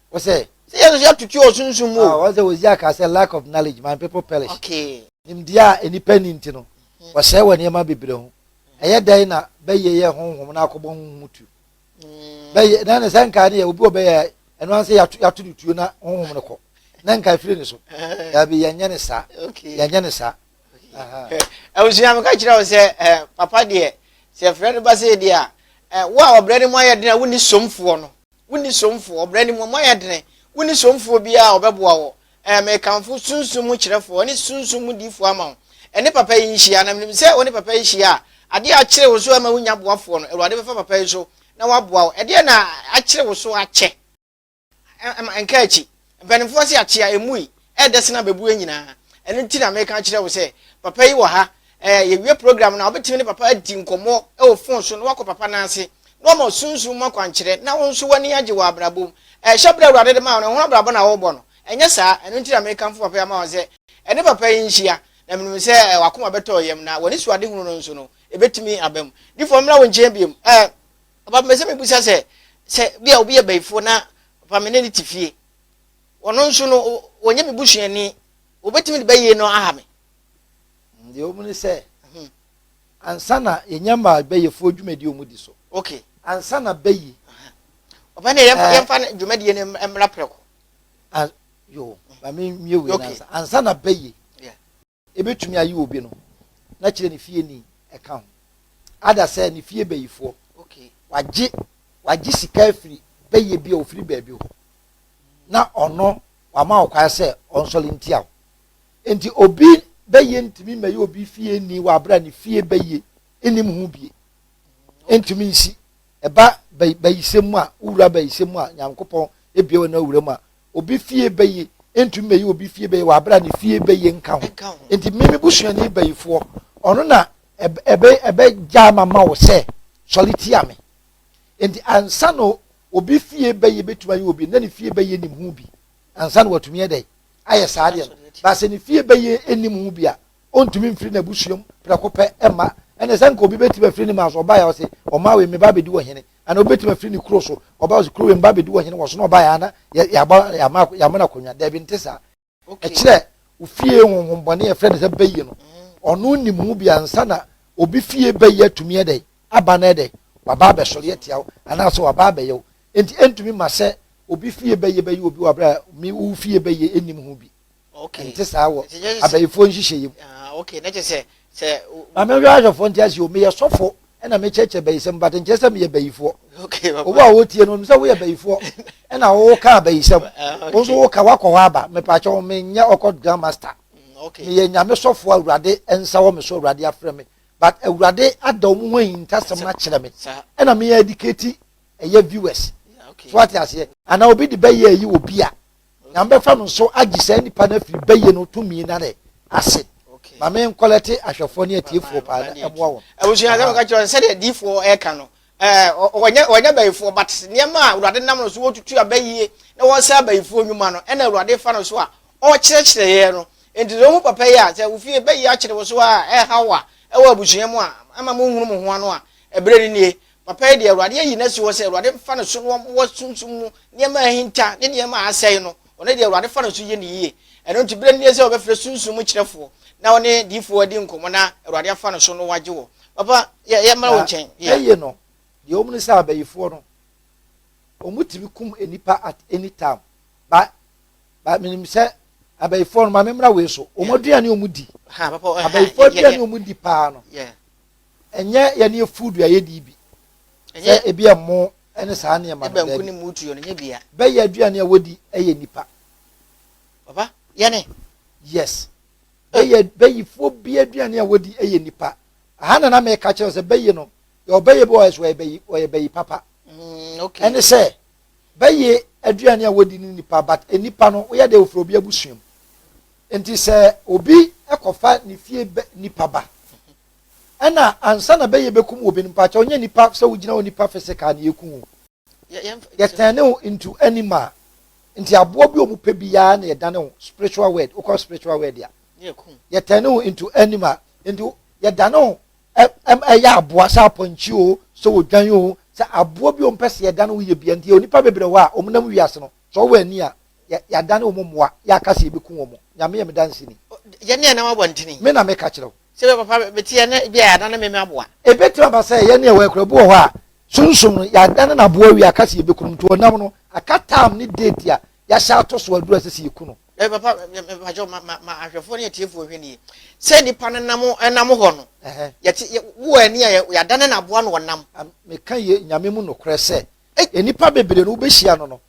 A: Wɔsɛ
B: sɛ yɛn nso yɛatutu wɔ
A: sunsum mu. Ah, wɔn sɛ Hosea kaa sɛ
B: lack of knowledge my people perish. Okay. Nimdeɛ a
A: nnipa
B: nni nti no, mm. wɔsɛe wɔ nneɛma bebree ho. Mm. Ɛyɛ dɛn na bɛyɛ yɛ honhom na akɔbɔ honhom tu? Mm. Bɛyɛ na ne sɛ nkaa ne yɛ obi wɔ bɛyɛ ɛno ansɛ yɛato no tuo na honhom no kɔ na nka efiri ne so. Yɛbi eh. yɛnyɛ ne saa. Yɛnyɛ ne saa.
A: Abusua eh, mi ka kyerɛ wo sɛ eh, papa deɛ sɛ fɛrɛ no ba sɛ deɛ a wo a ɔbrɛ ne mu ayɛ den a wonni somfoɔ no. Wonni somfoɔ, ɔbrɛ ne mu, ɔma yɛ dene, wonni somfoɔ biara a ɔbɛboa wo, ɛɛ, mekamfo sunsum mu kyerɛfoɔ ne sunsum mu diifoɔ ama wo, ɛne papa yi nhyia, na menim sɛ wo ne papa yi hyia a, adeɛ a akyere wo so ɛma wonya boafoɔ no, Awurade bɛfa papa yi so na waboa wo. Ɛdeɛn na akyere wo so akyɛ? Ɛma nka akyi, Mpanimfoɔ se akyea ɛmui, ɛɛdɛ sene abɛbuɛ nyinaa. Ɛno nti na meka akyerɛ wo sɛ papa yi wɔ ha. Ɛɛ, yɛwie program no a, wobɛtumi ne papa adi nkɔmmɔ wɔ fon so na woakɔ papa nan ase na wama Sunsum mu akwankyerɛ na wo nso w'ani agye wɔ abrabɔ mu. Ɛɛ, hyɛ berɛ a Awurade de maa wo no, ɛho abrabɔ na worebɔ no. Ɛnyɛ saa? Ɛno nti na mekamfo papa yi ama wo sɛ ɛne papa yi nhyia. Na menim sɛ w'akoma bɛtɔ wo yam na w'anisoadehunu no nso no, ɛbɛtumi aba mu. Difoɔ, memmra wo nkyɛn bio? Ɛɛ. Ɔba mepɛ sɛ mebisa sɛ, sɛ bi a obi yɛ bayifoɔ na ɔba me ne no te fie, ɔno nso no ɔnyɛ me busuani, wɔbɛtumi de bɛyie no aha me? Deɛ
B: wɔmu ne sɛ, mhm. ansa na yɛnya ma bɛyɛfoɔ dwumadie wɔn di so. Ok. Ansa na
A: bɛyi.
B: Ɔba ne
A: yɛmfa eh. yɛmfa dwumadie no mmra prɛko. Yo,
B: ba me mmie wei ansa na bɛyi. Ebetumi aye obi no na kyerɛ ne fie ni ɛka ho. Ada sɛ ne fie bayifoɔ wagye wagye sika afiri bɛyɛ bi a ofiri baabi hɔ na ɔno wama wo kwan sɛ ɔnsɔre ntia wo. Enti obi bɛyɛ ntumi mmɛyɛ obi fie ni wɔ abere a ne fie bɛyɛ nnim ho bie. Ntumi nsi. Ɛba bayisɛm mu a wowura bayisɛm mu a Nyankopɔn ebie wɔ na wura mu a obi fie bɛyi ntumi bɛyi obi fie bɛyi wɔ abira ne fie bɛyi nka ho nti mímí busuani bɛyifoɔ ɔno na ɛbɛ ɛbɛ gya ama ma wɔ sɛ sɔre tia mi nti ansa na obi fie bɛyi bɛtumi ayɛ obi na ne fie bɛyi nim ho bi ansa na watumi yɛ dɛ ayɛ saa deɛ no baasa ne fie bɛyi anim ho bi a ɔntumi mfiri na busuam prɛko pɛ ɛma ɛna sɛ nka obi bɛtumi afiri ne ma so ɔbaa yɛ ɔse ɔmaa wei meba abɛdi wɔ hene Ana obetumi afiri ne kuro so? Ɔbaa ɔsi kuro wei mba abedi wɔ hene wɔ so na ɔbaeɛ ana yɛaba yɛama yɛama no akonnwa? Daabi nte saa. Ɛkyerɛ wo fie honhom bɔne a yɛfrɛ no sɛ bayie no ɔno nim ho bi ansa na obi fie bayie atumi ɛdɛn aba na ɛdɛn waba abɛsɔre atia wo anaasɛ waba abɛyɛ wo. Enti ɛntumi ma sɛ obi fie bayie bɛyɛ obi wɔ abere a me wo fie bayie nnim ho bi. ɛnte saa wɔ abayifoɔ nhyehyɛeɛ mu. Maame nhwɛ ahwɛfoɔ nte aseɛ o, meyɛ sɔfo ɛna mekyerɛkyerɛ bayisɛm but nkyerɛ sɛ meyɛ bayifoɔ. Obu a wɔtie no, onim sɛ woyɛ bayifoɔ ɛna woka abayisɛm, wo nso woka woakɔ hɔ aba. Mepaakyɛ wo, menyɛ ɔkɔ Grand Master. Mm, meyɛ Nyame sɔfoɔ Awurade nsa wɔ me so, Awurade afrɛ me. But Awurade ada wɔn ho ahintasɛm no akyerɛ me ɛna meyɛ adikati ɛyɛ viewers. So ate aseɛ? Anaa obi de bɛyɛ ayi wɔ bi a Onyame bɛfa no so agye saa nipa no afiri bɛyɛ no tumi na ne ase. Ma me nkɔlɛte ahwɛfoɔ ne atiefoɔ paa na ɛmoa wɔn. Abusua sɛ wɔka kyerɛ
A: sɛdeɛ adiifoɔ ɛka no wɔnyɛ abayifoɔ but nneɛma a Awurade nam no so wɔtutu abayie na wɔsɛ abayifoɔ nnwuma no ɛna Awurade fa no so a ɔkyerɛkyerɛ yɛn no nti sɛ wohu papa yi a sɛ wofie bayi akyere wo so a ɛha wo a ɛwɔ abusua mu a ama monhunu mo ho ano a ɛberɛ no nie Papa yi deɛ, Awurade ayi no asi hɔ sɛ Awurade mfa ne so no mmoa sunsum mu nneɛma a ahinta ne nneɛma a asɛe no, ɔno deɛ Awurade fa ne so yɛ no yie. Ɛno nti berɛ no nie sɛ wɔbɛfrɛ sunsum mu kyerɛfoɔ na ɔne diyifoɔ adi nkɔmmɔ na Awurade afa ne so no wagye wɔ. Papa, yɛ, yɛmmra wo nkyɛn, yeah. Na eye no,
B: deɛ ɛwɔ mu ne sɛ abayifoɔ no, wɔn tumi kum nnipa at any time, ba, ba, menim sɛ abayifoɔ no, ma memmra wei so, wɔn aduane wɔn di, abayifoɔ aduane wɔn di paa no, ɛnyɛ yɛn ne food a yɛdi bi sɛ ebi ɛmo ne saa nneɛma no dɛbi bɛyɛ aduane a wɔdi ɛyɛ nipa papa
A: yɛne yes
B: bɛyɛ bɛyifoɔ bi aduane a wɔdi ɛyɛ nipa aha na na mɛka kyerɛ sɛ bɛyi no yɛ ɔbɛyɛ bi ɔyɛ so ɔyɛ bɛyi ɔyɛ bɛyi papa mm, ɛne sɛ bɛyɛ aduane a wɔdi ne nipa but e nipa no woyɛ deɛ ofura obi abusua mu nti sɛ obi ɛkɔfa ne fie nipa ba. ɛna ansa na bɛyɛ bɛkum wo bin mpakyɛw nyɛ nipa sɛ wogyina hɔ nipa physical na yɛku wo yɛtɛne wo into animal nti aboɔ bi ɔmu pɛ biara na yɛdane wo spiritual word wokɔ spiritual word a yɛtɛne wo into animal nti yɛdane wo ɛyɛ aboa sɛ apɔnkye o sɛ odwan o sɛ aboa bi ɔmpɛ sɛ yɛdane wo yɛ bia nti yɛ nipa bebrɛ hɔ a ɔmunam wiase no sɛ ɔwɔ ani a yɛadane wo mmoa yɛaka sɛ yɛbɛku wɔ mo nyame yɛ me danseni
A: me na meka kyerɛ wo
B: Sɛ bɛ papa bɛ teɛ
A: na ebia yɛadane meme aboa. Ebetumi aba sɛ yɛn
B: ne ɛwɔ yɛ koraa. Bi wɔ hɔ a, sunsum no, yɛadane no aboa awie aka sɛ yebeku no, nti ɔnam no aka taam ne deeti a yɛahyɛ ato so aduru a ɛsɛ sɛ yeku no. Bɛ papa, mepakyɛw
A: ma ma ma ahwɛfo ne atiefo nhwɛ nie. Sɛ nipa no nam nam hɔ no, yɛte yɛ wɔ ani a yɛadane no aboa na ɔnam. Meka yɛ Nyame
B: mu nokorɛ sɛ, nnipa bebree no wobehyia no no,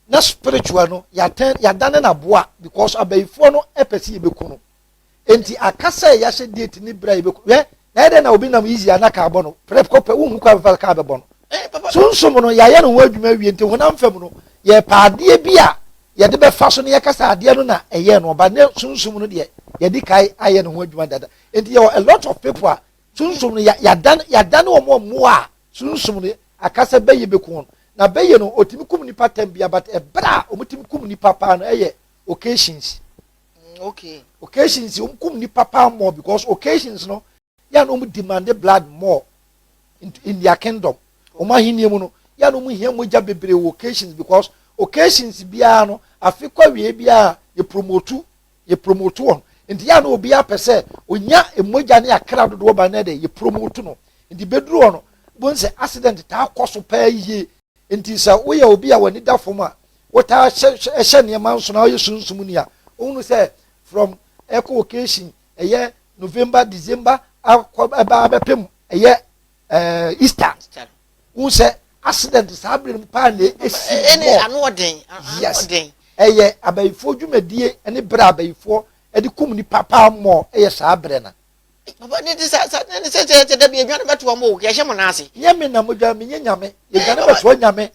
B: na spiritual no yɛatɛn yɛadane no aboa because abayifoɔ no pɛ sɛ yɛbɛku no nti aka sɛ yɛahyɛ date ne berɛ a yɛbɛku yɛ na yɛ dɛ na obi nam easy a na kaa bɔ no prɛko pɛ wohu kɔ abɛfa kaa bɛbɔ no sunsum no yɛayɛ no ho adwuma awie nti honam fam no yɛpɛ adeɛ bi a yɛde bɛfa so no yɛka sɛ adeɛ no na ɛyɛ no ɔba ne sunsum no deɛ yɛde kae ayɛ no ho adwuma dada nti yɛwɔ a lot of people a Sunsum no ya yadan yadan wɔn a mmoa a sunsum no akasa bɛyɛ bɛku wɔn na bɛyɛ no ɔtumi kum nipa tɛm bia but ɛberɛ a wɔtumi kum nipa paa no ɛyɛ occasions mm, okay. occasions wɔn kum nipa paa more because occasions no yɛ na wɔn demand blood more in, in their kingdom wɔn ahenni mu no yɛ na wɔn hia mogya bebree wɔ occasions because occasions biara no afe kɔ awie biara yɛ promote yɛ promote wɔn nti yɛ a na obiara pɛ sɛ onya mmogya ne akra dodoɔ ban na ɛdɛ yɛ promote no nti bɛduru hɔ no bohu sɛ accident taa kɔ so paa yie nti sɛ woyɛ obi a w'ani da fam a wotaa hyɛ hyɛ nneɛma nso na woyɛ sunsum ni a wohunu sɛ from ɛkɔ occasion ɛyɛ november december akɔ ɛbaa bɛpem ɛyɛ ɛɛ easter n sɛ accident saa bere no mu paa na esi wɔ ɛne ano ɔden
A: yes
B: ɛyɛ abayifoɔ dwumadie ne bere abayifoɔ ɛde kum nipa paa mmɔ ɛyɛ saa bere na. baba ne ti sa
A: sa ne ne sɛ sɛ sɛ dabi edwane bɛto wɔn o yɛhyɛ mo n'ase. nyɛ mi na mo dwa mi nye
B: nyame edwane bɛto nyame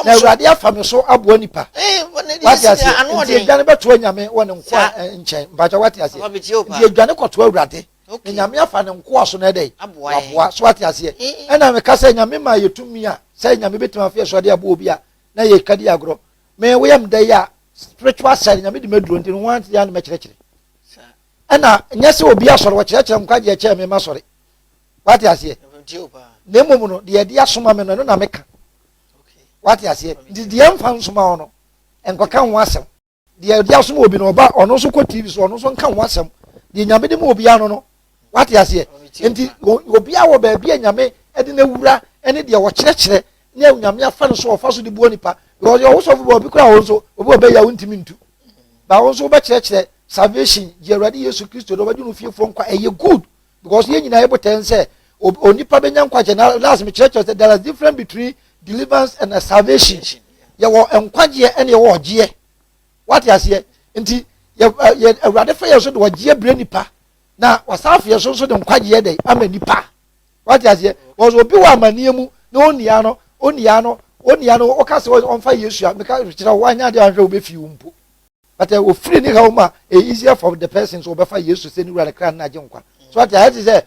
B: na awurade afa mi so aboa nipa wate ase nti edwane bɛto nyame wɔ ne nkoa nkyɛn mpatsɛ wate ase nti edwane kɔto awurade. Okay. Na nyame afa ne nkoa so na ɛdɛ. Aboa yɛ. Aboa so ate aseɛ. Eh, eh. Ɛna meka sɛ nyame ma yɛ tumi a sɛ nyame bɛtumi afeɛ so ade aboɔ bi a na yɛ kadi agorɔ. Me woyɛ mda yi a spiritual side nyame de maduro nti no ho ante yɛ ne mɛkyerɛkyerɛ. Ɛna nyɛ sɛ obi asɔre wɔkyerɛkyerɛ nkwagyeɛ kyɛɛ me ma sɔre. Wate aseɛ. Na mmom no deɛ ɛde asoma me no ɛno na meka. Wate aseɛ. Nti deɛ mfa nsoma hɔ no nkɔka ho asɛm. deɛ ɔde asom obi no ɔba ɔno nso kɔ tv so ɔno nso nka ho asɛm deɛ nyame de ma obiara no no wate aseɛ nti obiara wɔ baabi a nyame de no awura ne deɛ ɔkyerɛkyerɛ ne nyame afa no so ɔfa so de boɔ nipa because ɔwo sɔfo bi obi koraa wo nso obi ɔbɛyɛ a wontumi ntu ba wo nso wobɛkyerɛkyerɛ salvation gye awurade yesu kristo de ɔbɛgye no fiefoɔ nkwa ɛyɛ good because yɛn nyinaa yɛ botae ne sɛ onipa bɛnya nkwagye na last mekyerɛkyerɛ sɛ there is difference between deliverance and salvation yɛwɔ nkwagyeɛ ɛne yɛwɔ ɔgyeɛ wate aseɛ nti yɛ awurade fa yɛn so de ɔgyeɛ brɛ nipa na wasan afeɛ so nso de nkwagyeɛ dɛ ama nipa wate aseɛ because obi wɔ amanneɛ mu na ɔnnia no ɔnnia no ɔnnia no ɔka sɛ ɔmfa yesu a meka kyerɛ wo wanyɛ adeɛ anhwɛ wobɛfii wo mpo but eh, ofiri ne haw mu a eh, easier for the person so ɔbɛfa yesu sɛ ne wura ne kra no agye nkwa so ate ayɛ te sɛ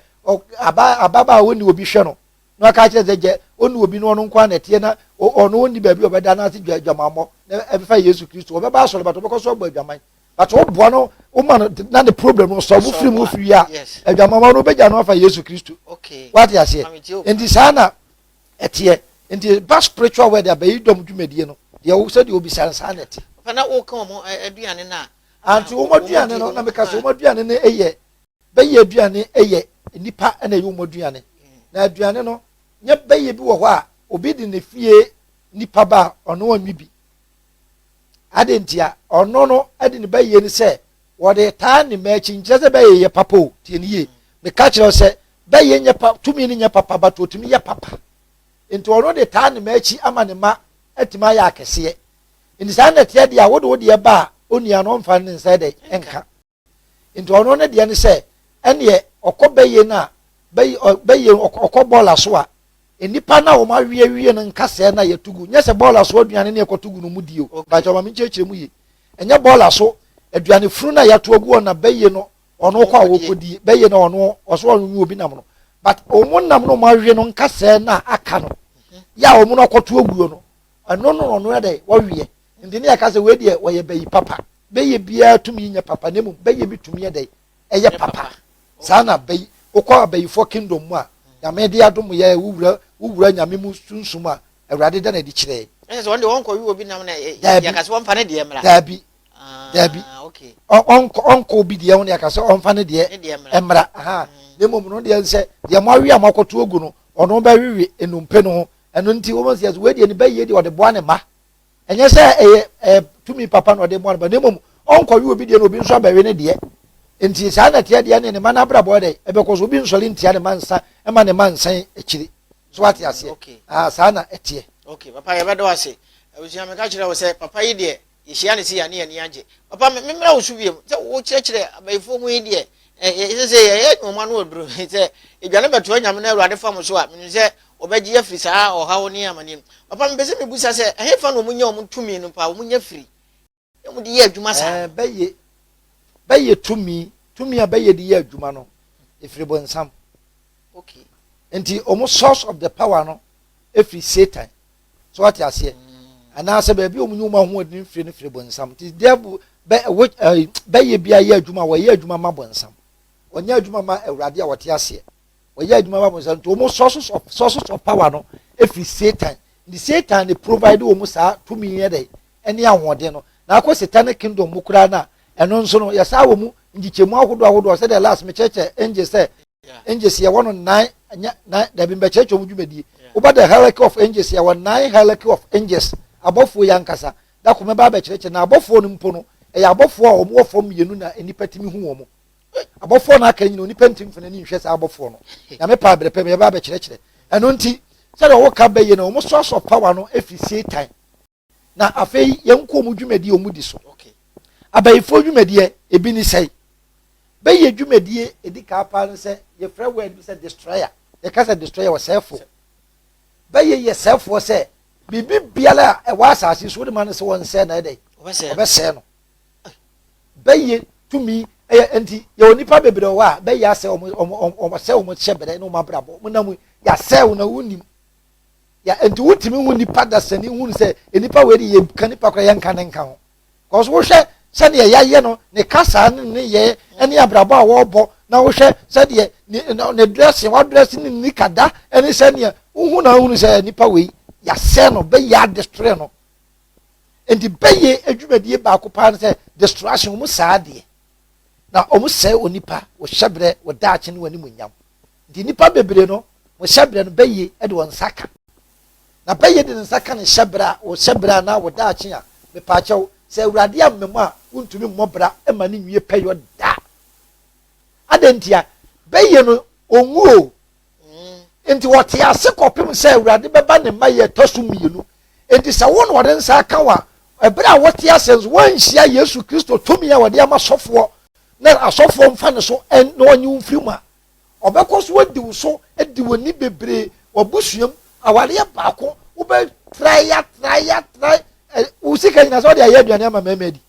B: ababaa a ɔnni obi hwɛ no na ɔka kyerɛ sɛ gyɛ ɔnni obi no ɔno nko na ɛteɛ na ɔno ɔnni baabi a ɔbɛda no ase dwa adwamammɔ na ɛbɛfa yesu kristo ɔbɛba asɔre but ɔbɛkɔ so abɔ adwaman but ɔboa no ɔma no na ne problem no sɔ wofiri mu firi a adwamammɔ no ɔbɛgya no afa yesu kristo wate aseɛ nti saa na Ɛteɛ. Nti ba spiritual world a bɛyi dɔm dwumadie no deɛ wo sɛdeɛ wobisa no saa na ɛte. Papa na woka wɔn
A: aduane no a. Auntie wɔn aduane
B: no na meka sɛ wɔn aduane no yɛ bɛyɛ aduane yɛ nnipa na ɛyɛ wɔn aduane na aduane no nyɛ bɛyɛ bi wɔ hɔ a obi de ne fie nnipa ba a ɔno ɔnwe bi Adɛn ntia? Ɔno no de ne bayie no sɛ wɔde taa ne mma akyi nkyerɛ sɛ bɛyɛ yɛ papa o tie ne yie meka kyerɛ wo sɛ bɛyɛ nyɛ pa tumi no nyɛ papa but ɔtumi yɛ papa nti ɔno de taa ne mma akyi ama ne mma atumi ayɛ akɛseɛ nti saa na ɛteɛ deɛ a wode wo deɛ ba a ɔnua no ɔmfa ne nsa dɛ nka nti ɔno ne deɛ ne sɛ ɛneɛ ɔkɔ bɛyɛ no a bɛyɛ ɔkɔ bɔɔl aso a nnipa no a wɔn awiewie no nkasɛɛ no a yɛto gu nyɛ sɛ bɔɔl aso aduane ne yɛkɔto gu no mu die o mpakyɛ ɔma me nkyerɛkyerɛ mu ye ɛnyɛ bɔɔl aso aduane funu no a yɛato agu hɔ na bɛyɛ no ɔno kɔ a wɔkɔdie bɛyɛ no ɔno ɔso ɔno nwi obi nam no but wɔn nam no wɔn awie no nkasɛɛ no a aka no yɛ a wɔn akɔto aguo no ɛno no ɔno yɛ dɛ wɔwie Enti na yɛka sɛ, Wei deɛ, wɔyɛ bayi papa. Bɛyɛ biara tumi nyɛ papa, na mmom bɛyɛ bi tumi yɛ dɛn? Ɛyɛ papa. Saa na bayi, wokɔ abayifoɔ kingdom mu a, Nyame de adom yɛ a, wowura, wowura Nyame mu sunsum a, Awurade da no adi kyerɛ yɛn. Ɛne sɛ wɔn deɛ wɔnkɔwe
A: obi nam na yɛaka sɛ wɔmfa ne deɛ mmra? Daabi, daabi.
B: Ah, okay. Ɔnkɔ, ɔnkɔ obi deɛ ho na yɛaka sɛ ɔmfa ne deɛ mmra. Aha. Mm. Na mmom no deɛ sɛ, deɛ moawe a moakɔto agu no, ɔno bɛwewe nnompe no ho. Ɛno nti, wɔn sɛ, wei deɛ ne bɛyɛ deɛ ɔde boa ne mma. ɛnyɛ sɛ ɛyɛ ɛyɛ tumi papa na ɔde bɔ no ba na mmom ɔnkɔwe obi deɛ na obi nso abɛwe ne deɛ nti saa na ɛteɛ deɛ ne ne ma no abrabɔ yɛ dɛ ɛbɛkɔ so obi nsɔre ntia ne ma nsa ma ne ma nsan akyiri so wate aseɛ okay. ah, saa na ɛteɛ okay papa yɛbɛdɔ
A: ase abusua meka kyerɛ wo sɛ papa yi deɛ yɛhyia ne si yɛne ani agye papa memmerɛ wo so wiem sɛ wokyerɛkyerɛ abayifoɔ mu yi deɛ Ɛsɛ sɛ yɛyɛ nnoɔma no wɔ berɛ mu. Sɛ aduane bɛtoa Nyame na Awurade fa mo so a, menim sɛ wɔbɛgye yɛn afiri saa ɔhaw ne amaneɛ no mu. Papa, mepɛ sɛ mebisa sɛ, ɛhefa na wɔnya wɔn tumi no paa? Wɔnya firi na wɔde yɛ adwuma saa no? Bɛyɛ,
B: bɛyɛ tumi, tumi a bɛyɛ de yɛ adwuma no, ɛfiri bonsam. Okay. Nti wɔn source of the power no ɛfiri Satan. So wate aseɛ? Anaasɛ baabi a wɔnyi wɔn ahoɔden mfiri no firi bonsam. Nti devil bɛ ɛwɔ ɛɛ bɛyɛ bi ayɛ adwuma wɔyɛ adwuma ma bonsam. Wɔnyɛ adwuma ma awurade a wɔte aseɛ. Wɔyɛ adwuma ma bonsam nti wɔn sources of sources of power no efiri satan. Nti satan ne provide wɔn saa tumi yɛ dɛ ɛne ahoɔden no. Na akɔ satanic kingdom mu koraa na ɛno nso no yɛsaa wɔn nkyekyɛmu ahodoɔ ahodoɔ sɛdeɛ last mekyerɛkyerɛ angel sɛ angels yɛwɔ no nnan nyɛ nnan dabi mbɛkyerɛkyerɛ wɔn dwumadie woba the hierarchy of angels yɛwɔ nnan hierarchy of angels abɔfoɔ yi ankasa dako mɛba abɛkyerɛkyerɛ na abɔfoɔ no mpo no ɛyɛ abɔfoɔ a wɔn wɔ fam mmienu na nnipa tumi hu wɔn abɔfoɔ no aka nyina onipa ntumi fana ni nhwɛ saa abɔfoɔ no nyame paa abirɛ pɛ mɛba abɛkyerɛkyerɛ ɛno nti sɛdeɛ wɔka bɛyɛ no wɔn so asɔ power no efi satan na afei yɛnkɔ wɔn dwumadie wɔn di so okay abayifoɔ dwumadie ebi ne sɛe bɛyɛ dwumadie edi kaa paa no sɛ yɛfrɛ word bi sɛ destroyer yɛka sɛ destroyer ɔsɛɛfoɔ bɛyɛ yɛ sɛɛfoɔ sɛ biribi biara a ɛwɔ asase so wɔde ma no sɛ wɔn nsɛɛ na ɛdɛ ɔbɛsɛɛ no bɛyɛ tumi ɛyɛ nti yɛwɔ nipa bebree wɔ a bɛyɛ asɛ wɔn wɔn wɔn wɔn asɛ wɔn hyɛ brɛ ne wɔn abrabɔ wɔn nam yɛ asɛ wɔn na wɔn nim Yeah, nti wotumi hu nipa dasani hu sɛ nipa wei de yɛka nipa koraa yɛnka ne nka ho. Because wohwɛ sɛdeɛ yɛayɛ no, ne kasaa ne ne yɛ ne abrabɔ a wɔrebɔ na wohwɛ sɛdeɛ ne dressing, wadrɛse ne nika da ne sɛdeɛ wohu na wohunu sɛ nipa wei yɛasɛ no bɛyɛ adestorɛ no. Nti bɛyɛ adwumadie baako paa no sɛ distraction wɔn saa adeɛ na wɔn sɛe onipa wɔhyɛ berɛ wɔdaakye ne wɔn animuonyam. Enti nnipa bebree no, wɔn hyɛberɛ no, bɛyɛ de wɔn nsa ka. Na bɛyɛ de ne nsa ka ne hyɛberɛ a, wo hyɛberɛ anaa wo daakye a, mepaakyɛw, sɛ Awurade amma mu a, wontumi mmɔ bra mma no nwie pɛyɔ da. Adɛn ntia? Bɛyɛ no, ɔnwu o. Enti wɔte ase kɔpem sɛ Awurade bɛba ne mma yɛ ɛtɔ so mmienu. Enti sɛ wo na wɔde nsa aka wo a, ɛberɛ a wote ase nso, woanhyia Yesu Kristo tumi a wɔde ama sɔfoɔ na asɔfoɔ mfa ne so na wɔnye wo mfiri mu a, Ɔbɛkɔ so adi wo so, adi w'ani bebree, w'abusuam, awareɛ baako, wobɛtrae atrae atrae, ɛ, wo sika nyina sɛ wode ayɛ aduane ama mmarima adi.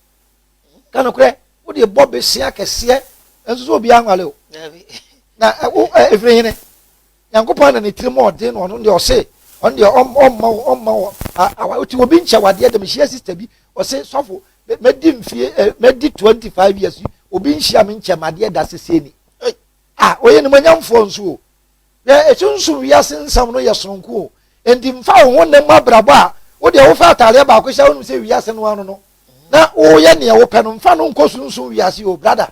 B: Ka nokorɛ, wode bɔ besea kɛseɛ, nso so obiara nwale o. Na ɛ, wo, ɛ, ɛfiri hene? Nyankopɔn na ne tirim ɔden no, ɔno deɛ ɔse, ɔno deɛ ɔm, ɔmma wo, ɔmma wo, a, awa, ɔte obi nkyɛ wadeɛ dɛ, mehyia sista bi, ɔse, sɔfo, mɛ, mɛdi mfie, ɛ, mɛdi 25 years, obi nhyia me nkyɛ madeɛ da, sesei ni. a ɔyɛ nimonyamfoɔ nso o yɛ esunsum wiase nsɛm no yɛ sononko o nti nfa wo ho nna mu abrabɔ a wo deɛ wofa ataadeɛ baako hyɛ wonim sɛ wiase no ano no na woyɛ neɛ wopɛ no nfa no nkɔ sunsum wiase o brada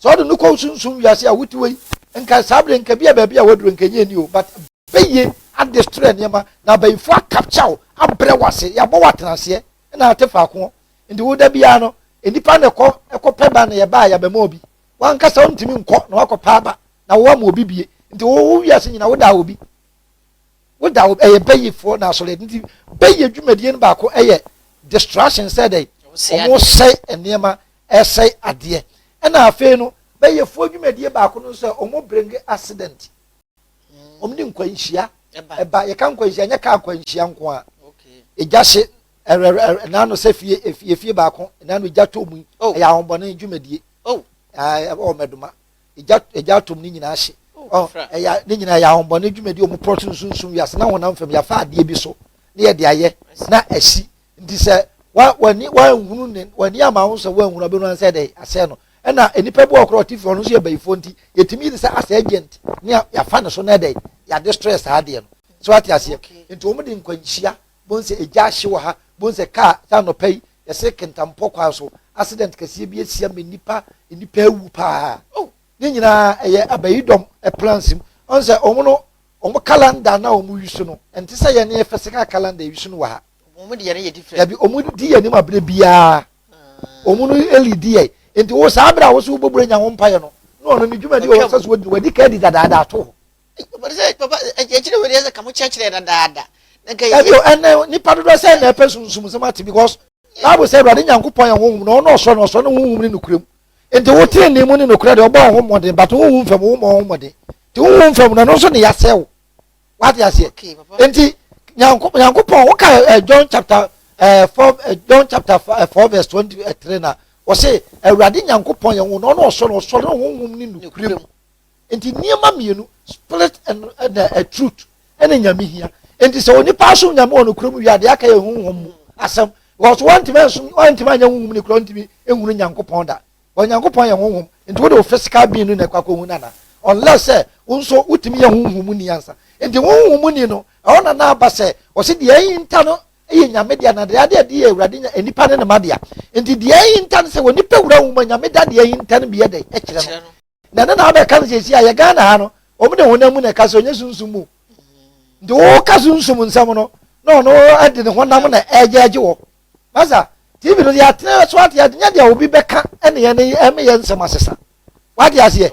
B: sɛ ɔde no kɔ sunsum wiase a wote wei nka saa bere nka bi a baabi a waduro nka nyɛ ni o but bɛyie adestrɛ nneɛma na abayifo akapkya wo abrɛ wase yɛabɔ woatena aseɛ na ate faako nti woda biara no nnipa na ɛkɔ ɛkɔpɛ ba na yɛba a yɛabɛma obi wankasa wontumi nkɔ na wakɔpa aba na wo ama obi bie nti wo wo wiase nyina woda obi woda obi ɛyɛ bɛyifoɔ na asɔre nti bɛyi adwumadie no baako ɛyɛ distraction sɛ dɛ wɔn sɛe nneɛma ɛsɛe adeɛ ɛna afei no bɛyifoɔ adwumadie baako no sɛ wɔn bring accident hmm. wɔn de nkwanhyia ɛba yɛka nkwanhyia nyɛ kaa nkwanhyia nko a egya hye ɛrɛ ɛrɛ ɛnaano sɛ fie efie baako ɛnaano egya tɔ mu oh. ɛyɛ ahobɔne adwumadie. Oh, ayi, oh, mɛdoma. Egya, egya atom ne nyinaa hye. Oh, oh ɛyɛ, ne nyinaa yɛ ahombɔne dwumadi ɔmo pɔrɔ sunsunsun wiase na honam fam yafa adeɛ bi so ne yɛ de ayɛ na ɛsi nti sɛ wa wani wanhunu ne wani ama ho sɛ wanhunu abɛnu ansɛ dɛ asɛɛ no ɛna nipa bi wɔ korɔ ɔte fi ɔno nso yɛ bɛyifoɔ nti yɛtumi yi de sɛ asɛ agent ne yafa ne so na ɛdɛ yɛade stress saa adeɛ no so ate aseɛ nti wɔn de nkwanhyia Bohu sɛ egya ahye wɔ ha. Bohu sɛ kaa sɛ anɔpa yi yɛsere Kintampo kwan so accident kɛseɛ bi asia ma nnipa nnipa awu paa. Oh ne nyinaa ɛyɛ abayidɔm plans mu. Ɔn sɛ wɔn no wɔn calendar no a wɔn wi so no ɛnte sɛ yɛn yɛ fɛsɛ kaa calendar yɛwi so no wɔ ha. Wɔn deɛ no yɛ different. Dabi wɔn di yɛn anim abere biara. Wɔn no eli di yɛn. Nti wo saa abere a wo so wo bɔ bura nya ho mpaeɛ no na ɔno ne dwumadi wɔ sɛ so wɔ di no wadi ka adi dadaada ato hɔ.
A: ɛbio ɛnɛ nipa
B: dodoɔ sɛ na ɛpɛ sunsum sɛm ate because bible sɛ awurade nyankopɔn yɛ honhom na ɔno ɔsoro na ɔsoro ne honhom ne nokorɛ mu nti wo tene ne mu ne nokorɛ deɛ ɔbɔ ɔho mmɔden but honhom fam wo mmɔ ɔho mmɔden nti honhom fam no ɛno nso ne yɛasɛ wo wate aseɛ nti nyankopɔn woka eh, john chapter eh, four eh, john chapter four verse twenty three na wɔse awurade nyankopɔn yɛ honhom na ɔno ɔsoro na ɔsoro ne honhom ne nokorɛ mu Nti nneɛma mmienu spirit and ɛna eh, truth ɛna nyame hia. Nti sɛ onipa asom nyame wɔ no kurom wia deɛ aka yɛ huhum mu asɛm because wɔntumi nsom wɔntumi anyɛ huhum ne kura wɔntumi nhunu nyankopɔn da wɔn nyankopɔn yɛ huhum nti wɔde wɔ physical being no na ɛkɔ akɔhu nana unless sɛ wɔn nso wotumi yɛ huhum mu ni ansa nti huhum mu ni no ɛwɔ na na aba sɛ wɔsi deɛ ɛyi nta no ɛyɛ nyame deɛ na deɛ adeɛ ɛde yɛ awurade nya nipa ne ne ma deɛ nti deɛ ɛyi nta no sɛ wɔn nipa wura wɔn mu nyame da deɛ ɛyi nta no bi yɛ dɛ ɛkyerɛ no. na ɛno na wobɛka no sɛsi a yɛ ghana ha no wɔn de honam mu na ɛka sɛ ɔnyɛ sunsum mu nti woka sunsum nsɛm no na ɔno de ne honam na ɛgyɛgye wɔ masa tv no deɛ atena so ate ade nyɛ deɛ obi bɛka ɛne yɛn ne ɛme yɛn nsɛm asesa wate aseɛ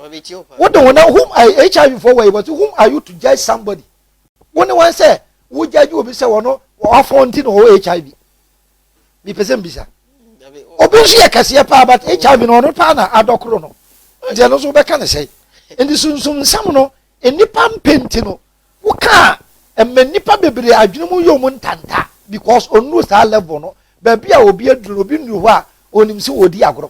B: wode honam whom hiv foɔ wɔ yi wɔte whom are you to judge somebody wo ne wɔn sɛ wogyagye obi sɛ wɔn wafɔn ti na ɔwɔ hiv mepɛ sɛ mbisa obi nso yɛ kɛseɛ paa but hiv no ɔno paa na adɔ koro no nti ɛno nso wobɛka ne sɛe nti sunsum nsɛm no nnipa mpɛ nti no wokaa ɛma nnipa bebree adwene mu yɛ mu ntanta because ɔnuru saa level no baabi a obi aduru no obi nnuru hɔ a ɔnim sɛ ɔdi agorɔ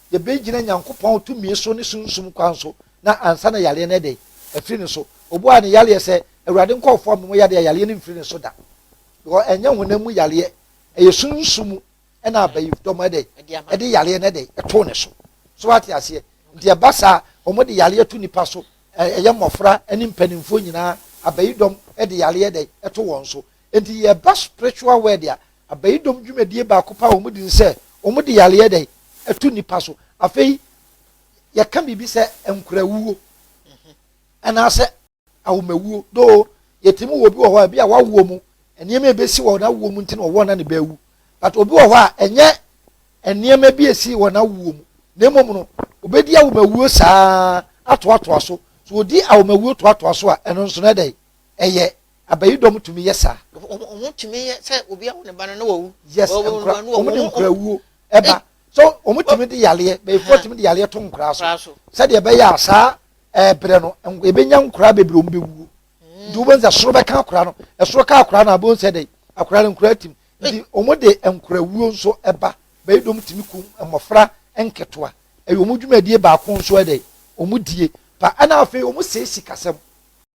B: yɛbɛgyina Nyankopɔn tumi so ne Sunsum kwan so na ansa na yareɛ no ayɛ dɛn? Afiri ne so. Ɔbuaa ne yareɛ sɛ, Awurade nkɔɔfoɔ me mo yadeɛ a yareɛ no mfiri ne so da. Because ɛnyɛ honam mu yareɛ, ɛyɛ Sunsum mu ɛna abayifdɔm ayɛ dɛn? Ɛde yareɛ no ayɛ dɛn? Ɛtoo ne so. So wate aseɛ? Nti ɛba saa, wɔn de yareɛ to nipa so, ɛyɛ mmɔfra ɛne mpanimfoɔ nyinaa, abayidɔm ɛde yareɛ ayɛ dɛn? Ɛto wɔn so. Nti yɛba spiritual world a, Abayidom dwumadie baako paa wɔn di ne sɛ wɔn de yareɛ yɛ dɛn ɛto nipa so. Afei yɛka biribi sɛ nkorawuo anaasɛ awomawuo doo yɛtumi wɔ obi wɔ hɔ a ebi a wawoɔ mu nneɛma ebesi wɔ n'awoɔ mu nti na ɔwɔ na ne bɛawu but obi wɔ hɔ a ɛnyɛ nneɛma bi esi wɔ n'awoɔ mu na mmom no obedi awomawuo saa atoatoa so so odi awomawuo toatoa so a ɛno nso na ɛdɛn ɛyɛ Abayidɔm tumi yɛ saa. Wɔn tumi yɛ
A: sɛ obi awo ne ba no na wawu. Yes, nkora wɔn
B: de nkora wuo ɛba. So wɔn tumi de yareɛ bɛyifoɔ tumi de yareɛ to nkora so sɛdeɛ ɛbɛyɛ a saa ɛbrɛ no ebɛnya nkora bebree wɔn bɛwuo. Hmm. Nti wɔn sɛ soro bɛka akora no ɛsoro ka akora no abɛn sɛ dɛ akora no nkora tim. Nti wɔn de nkora wuo nso ɛba. Abayidɔm tumi kum mmɔfra nketewa. Ɛyɛ wɔn dwumadie baako nso ɛdɛ wɔn die pa ɛna afei wɔn sɛ sikasɛm.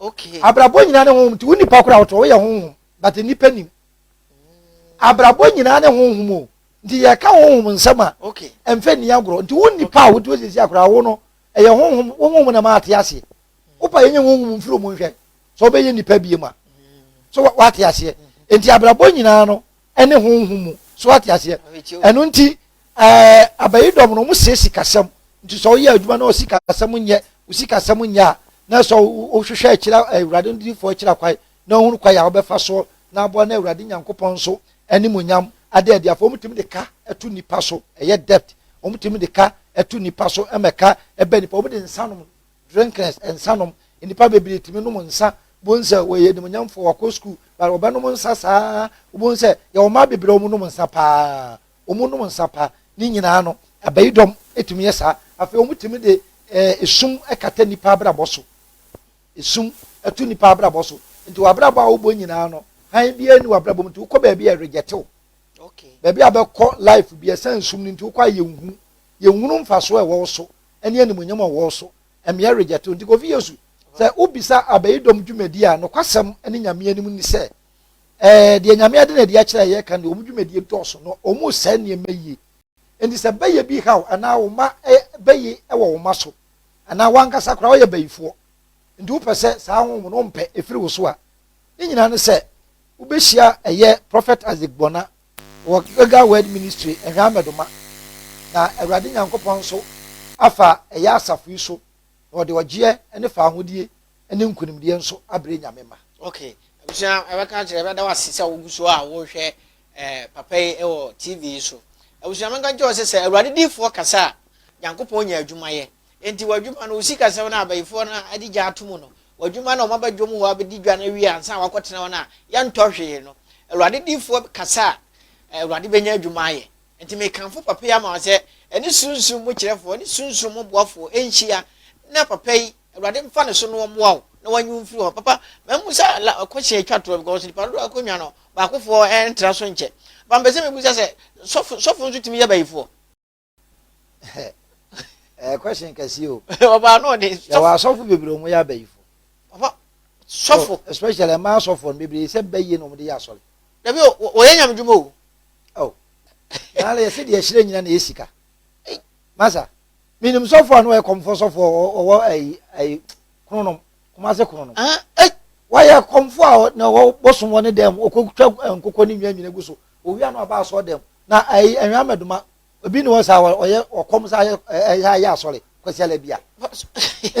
B: Okay. Abrabɔ
A: nyinaa ne honhom nti
B: wo nipa koraa wotɔ woyɛ honhom but nipa nim. Abrabɔ nyinaa ne honhom o nti yɛka honhom nsɛm a okay. ɛmfɛ nni
A: agorɔ nti
B: wo nipa a wotuo siesie akoraa wo no ɛyɛ honhom wo honhom na ma ate aseɛ. Wopa yɛnyɛ honhom mfiri mu nhwɛ sɛ wobɛyɛ nipa bie ma. So wate aseɛ nti abrabɔ nyinaa no ne honhom mu so ate aseɛ ɛno nti ɛɛ abayi dɔm no wɔn sɛ sikasɛm nti sɛ ɔyɛ adwuma na ɔsikasɛm nyɛ osikasɛm nyɛ a na sɛ ɔhwehwɛ akyira awurade no difoɔ akyira kwae na ɔhunu kwae a ɔbɛfa soɔ na aboa na awurade nyankopɔn nso animonyam ada adi afɔ wɔn tumi de ka ɛto nipa so ɛyɛ debt wɔn tumi de ka ɛto nipa so ɛmɛka ɛbɛ nipa wɔn de nsa nom drinkers, nsanom. Nnipa bebree tumi nom nsa, wobɛhu sɛ wɔyɛ animuonyamfoɔ, wɔakɔ sukuu, but wɔbɛnom nsa saa, wobɛhu sɛ yɛwɔ mmaa bebree a wɔnom nsa paa, wɔnom nsa paa. Ne nyinaa no, abayidɔm tumi yɛ saa. Afei wɔtumi de eh, esum kata nnipa abrabɔ so. Esum to nnipa abrabɔ so. Nti w'abrabɔ a wobɔ nyinaa no, hann biara ni w'abrabɔ mu nti wokɔ baabi a ɛregyɛtew. Okay. Baabi
A: a bɛkɔ
B: life bi ɛsan sum no nti wokɔ a yɛnhu, yɛnhunu mfasoɔ a ɛwɔ wo so. ne animuonyam a ɔwɔ so. Mmea regyɛ tow nti, Kofi Yesu, sɛ wobisa abayidɔm dwumadi a, nokwasɛm ne Nyame anim ne sɛ, eh, deɛ Nyame ade na adi akyerɛ a yɛka no deɛ, wɔn dwumadie dɔɔso na wɔresɛe nneɛma yie. Enti sɛ bɛyɛ bi haw anaa wo mma eh, bayi wɔ wo mma so, anaa w'ankasa koraa woyɛ bayifoɔ nti wopɛ sɛ saa honhom no wompɛ ɛfiri wo so a, ne nyinaa ne sɛ wobɛhyia ɛyɛ Prophet Isaac Buona. Wɔ Gilgal Word Ministry nhwɛ amɛdoma, na Awurade Nyankopɔn nso afa ɛyɛ asafo yi so, na ɔde ɔgyeɛ ne faahodie ne nkunimdie nso abrɛ Nyame mma. Ok abusua
A: yɛbɛka akyerɛ yɛbɛda wo ase sɛ wogu so a wohwɛ eh, papa yi wɔ TV yi so abusua menka nkyerɛ wo sɛ sɛ awurade diifoɔ kasa a Nyankopɔn nya adwuma yɛ. Enti w'adwuma no, wo sikasɛm no a abayifoɔ no adi gya ato mu no, w'adwuma no a wɔaba dwom hɔ abɛdi dwa no awie ansa na woakɔtena hɔ no a yɛntɔ hwee no, Awurade diyifoɔ kasa a, Awurade bɛnya adwuma ayɛ. Enti mekamfo papa yi ama wo sɛ, ɛne sunsum mu kyerɛfoɔ ne sunsum mu boafoɔ nhyia, na papa yi, Awurade mfa ne so na ɔmmoa wo, na wanyi wo mfiri hɔ. Papa, mammisa la question atwa toɔ because nnipa dodoɔ a akɔnwa no, baakofoɔ ntra so nkyɛ. Papa mepɛ sɛ mebisa sɛ, sɔfo, sɔfo nso tumi yɛ bayifoɔ?
B: ɛyɛ question kɛseɛ o ɔbaa no ɔde
A: yɛwɔ asɔfo bebree ɔmo
B: yɛ abayifo papa
A: sɔfo especially ɛmaa
B: sɔfo no bebree sɛ bɛyie na ɔmo de yɛ asɔre dabi o wɔyɛ
A: nyame dwuma o
B: oh naala yɛsɛ deɛ ɛhyerɛ nyina na yɛ sika masa menim sɔfo a na ɔyɛ kɔmfoɔ sɔfo ɔwɔ ayi ayi kronom Kumase kɔn no. Ɛn ei! Wayɛ kɔmfo a na ɔwɔ bosom wɔ ne dan mu, ɔkɔtwa nkokɔ ne nnwan nyina gu so. Ɔwia no aba asɔre dɛm. Na ɛyi ɛnhwan mɛdoma? Obi ne hɔ saa a ɔyɛ ɔkɔm saa yɛ ɛyɛ yɛ asɔre Kwasiala bi a?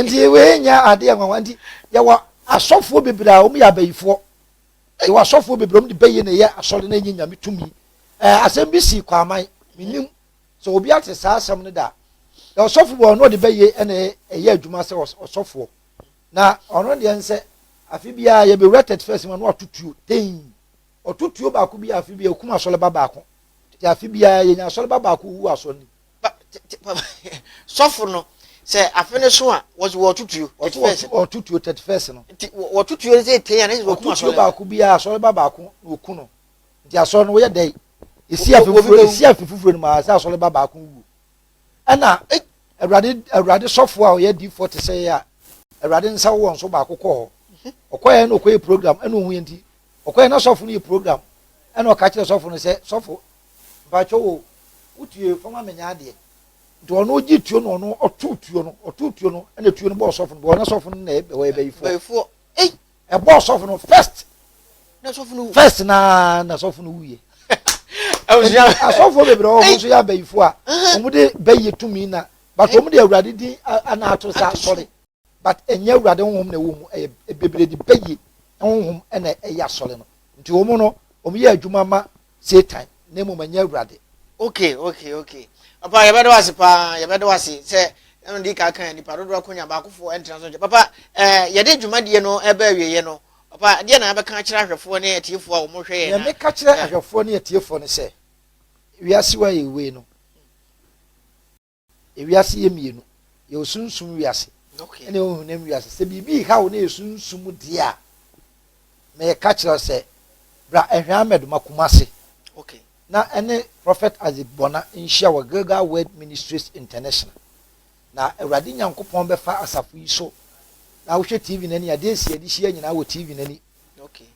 B: Nti wei nyɛ adeɛ nwanwa. Nti yɛwɔ asɔfoɔ bebree a wɔyɛ abayifoɔ. Yɛwɔ asɔfoɔ bebree a wɔde bayi na ɛyɛ asɔre na ɛnyɛ Nyame tumi. Ɛɛ asɛm bi sii Kwaman, mennim. sɛ obi ate saa asɛm no da a ɔsɔfo wɔ ɔno ɔde bɛyɛ ɛna ɛyɛ adwuma sɛ ɔsɔfoɔ na ɔno deɛ nsɛ afe biara yɛbɛwura tɛt fɛs ma no atotuo tɛn ɔtotuo baako bi afe biara okum asɔleba baako te afe biara yɛnya asɔleba baako wu asɔ ni
A: sɔfo no sɛ afe no so a wɔtotuo ɔtotuo tɛt
B: fɛs no wɔtotuo sɛ tɛn
A: a na yɛ ɔkum asɔleba baako biara asɔleba
B: baako na oku no nti asɔre no wɔyɛ dɛ esi afi foforo esi afi foforo no maa sɛ asɔre ba baako wu ɛna awurade awurade sɔfo a ɔyɛ di fɔ te sɛ yɛ a awurade nsa wɔ nso baako kɔ hɔ ɔkɔyɛ na ɔkɔyɛ program ɛna ohun yɛ nti ɔkɔyɛ na sɔfo no yɛ program ɛna ɔka kyerɛ sɔfo no sɛ sɔfo mpatsɔ wo wotue fɔm amenya adeɛ nti ɔno gye tuo no ɔno ɔto tuo no ɔto tuo no ɛna tuo no bɔ ɔsɔfo no bɔ ɔna sɔfo no na ɛbɛ ɔyɛ bɛyifoɔ.
A: ɛbɔ ɔsɔfo no
B: first na sɔfo no
A: first na na
B: sɔfo no wuye asɔfo bebree wɔn nso yɛ abayifo a wɔn de bɛyɛ tumi na but wɔn de awurade din ana ato sa asɔre but ɛnyɛ awurade honhom na ɛwɔ mu ɛyɛ bebree de bɛyɛ honhom na ɛyɛ asɔre no nti wɔn no wɔn yɛ adwuma ma Satan, na mmom ɛnyɛ Awurade. Okay, okay,
A: okay. Papa, yɛbɛda wo ase paa, yɛbɛda wo ase sɛ ɛno de ka kan nipa dodoɔ ko nya baakofoɔ ɛntena so nkyɛ. Papa, ɛɛ eh, yɛde dwumadie no ɛbɛ awieɛ no, papa, deɛ na yɛbɛka akyerɛ ahwɛfoɔ ne atiefoɔ a wɔhwɛ yɛn na. Yɛn meka kyerɛ ahwɛfoɔ
B: ne atiefoɔ no sɛ, wiase wa yɛ wei no. Ewiase yɛ mmienu, yɛwɔ sunsum wiase ne honam
A: wiase.
B: Sɛ biribi reha wo na yɛ sunsum deɛ a, meka kyerɛ wo sɛ bra Ɛhwɛ Ahmed ma Kumasi
A: na ɛne
B: Prophet Isaac Bona nhyia wɔ Gilgal Word Ministries International. Na Awurade Nyankopɔn bɛfa asafo yi so na wohwɛ TV no ani a, deɛ nsi yɛde hyia nyinaa wɔ TV no ani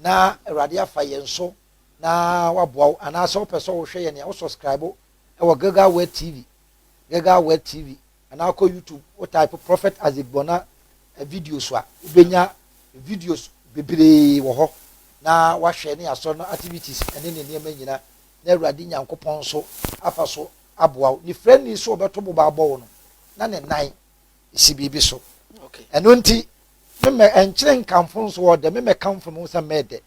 B: na
A: Awurade
B: afa yɛn so na waboa wo. Anaasɛ wopɛ sɛ wohwɛ yɛn a, wo subscribe wɔ Gilgal Word TV, Gilgal Word TV, anaa kɔ YouTube, wo type Prophet Isaac Bona videos a, wobɛnya videos bebree wɔ hɔ na wahwɛ ne asɔre no activities ne ne nneɛma nyina na Awurade Nyankopɔn nso afa so aboa wo. Ne frɛni so ɔbɛto boba abɔ wo no, na ne nan si biribi so. Ɛno nti, memɛ ɛnkyerɛ nkamfo nso ɔdɛ, memɛ kamfo me ho sɛ mɛdɛ.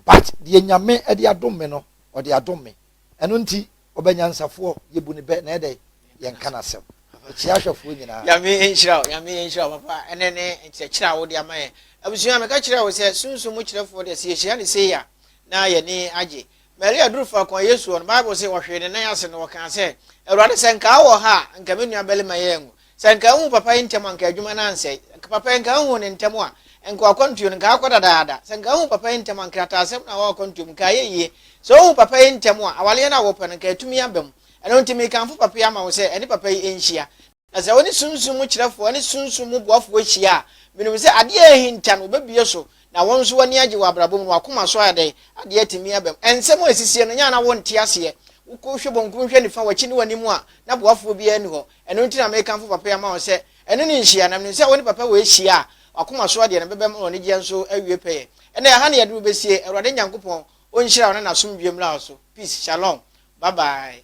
B: But deɛ Nyame de adom me no, ɔde adom me. Ɛno nti, ɔbɛ nyansafoɔ, yɛbu no bɛ, na yɛdɛ yɛnka n'asɛm kyea ahwɛfoɔ nyinaa. Nyame nhyira wo, Nyame
A: nhyira wo papa, ɛnɛ ne nkyerɛkyerɛ a wode ama yɛn. Abusua, meka kyerɛɛ wo sɛ Sunsum mu kyerɛfoɔ deɛ sɛ yɛhyira no sei a, na yɛani agye. Maria duru faako a Yesu wɔ no, Bible se ɔhwee ne nan ase na ɔkaa sɛ, Awurade, sɛ nka wowɔ ha a, nka me nuabarima yi anwu. Sɛ anka ahu papa yi ntɛm anka adwuma no ansɛe. Anka papa yi anka ahu no ntɛm a, anka wakwantuo no anka akɔ dadaada. Sɛ anka ahu papa yi ntɛm a, nkrataasɛm no a ɛwɔ akwantuo mu anka ayɛ yie. Sɛ wohu papa yi ntɛm a, awareɛ no a wopɛ no anka atumi aba mu. Ɛno nti mekamfo papa yi ama wo sɛ ɛne papa yi nhyia. Na sɛ wo ne sunsum mu kyerɛfoɔ ne sunsum mu boafoɔ hyia a, menim sɛ adeɛ a ahinta no wobɛbue so, na wo nso w'ani agye wɔ abrabɔ mu na w'akoma so ayɛ dɛn? Adeɛ atumi aba mu. Nsɛm a ɛsisie no nyɛ a na wonte aseɛ. Wokɔ hwɛ bankum hwɛ nifa, w'akyi ne w'anim a, na boafoɔ biara nni hɔ. Ɛno nti na mekamfo papa yi ama wɔn sɛ ɛne no nhyia, na menim sɛ wo ne papa wei hyia a, w'akoma soɔ deɛ no bɛbam na w'anigyeɛ nso awie pɛyɛ. Ɛnna ɛha na yɛduru bɛsie. Awurade Nyankopɔn ɔnhyira wo na n'asomdwoeɛ mmra wo so. Peace. Shalom. Bye bye.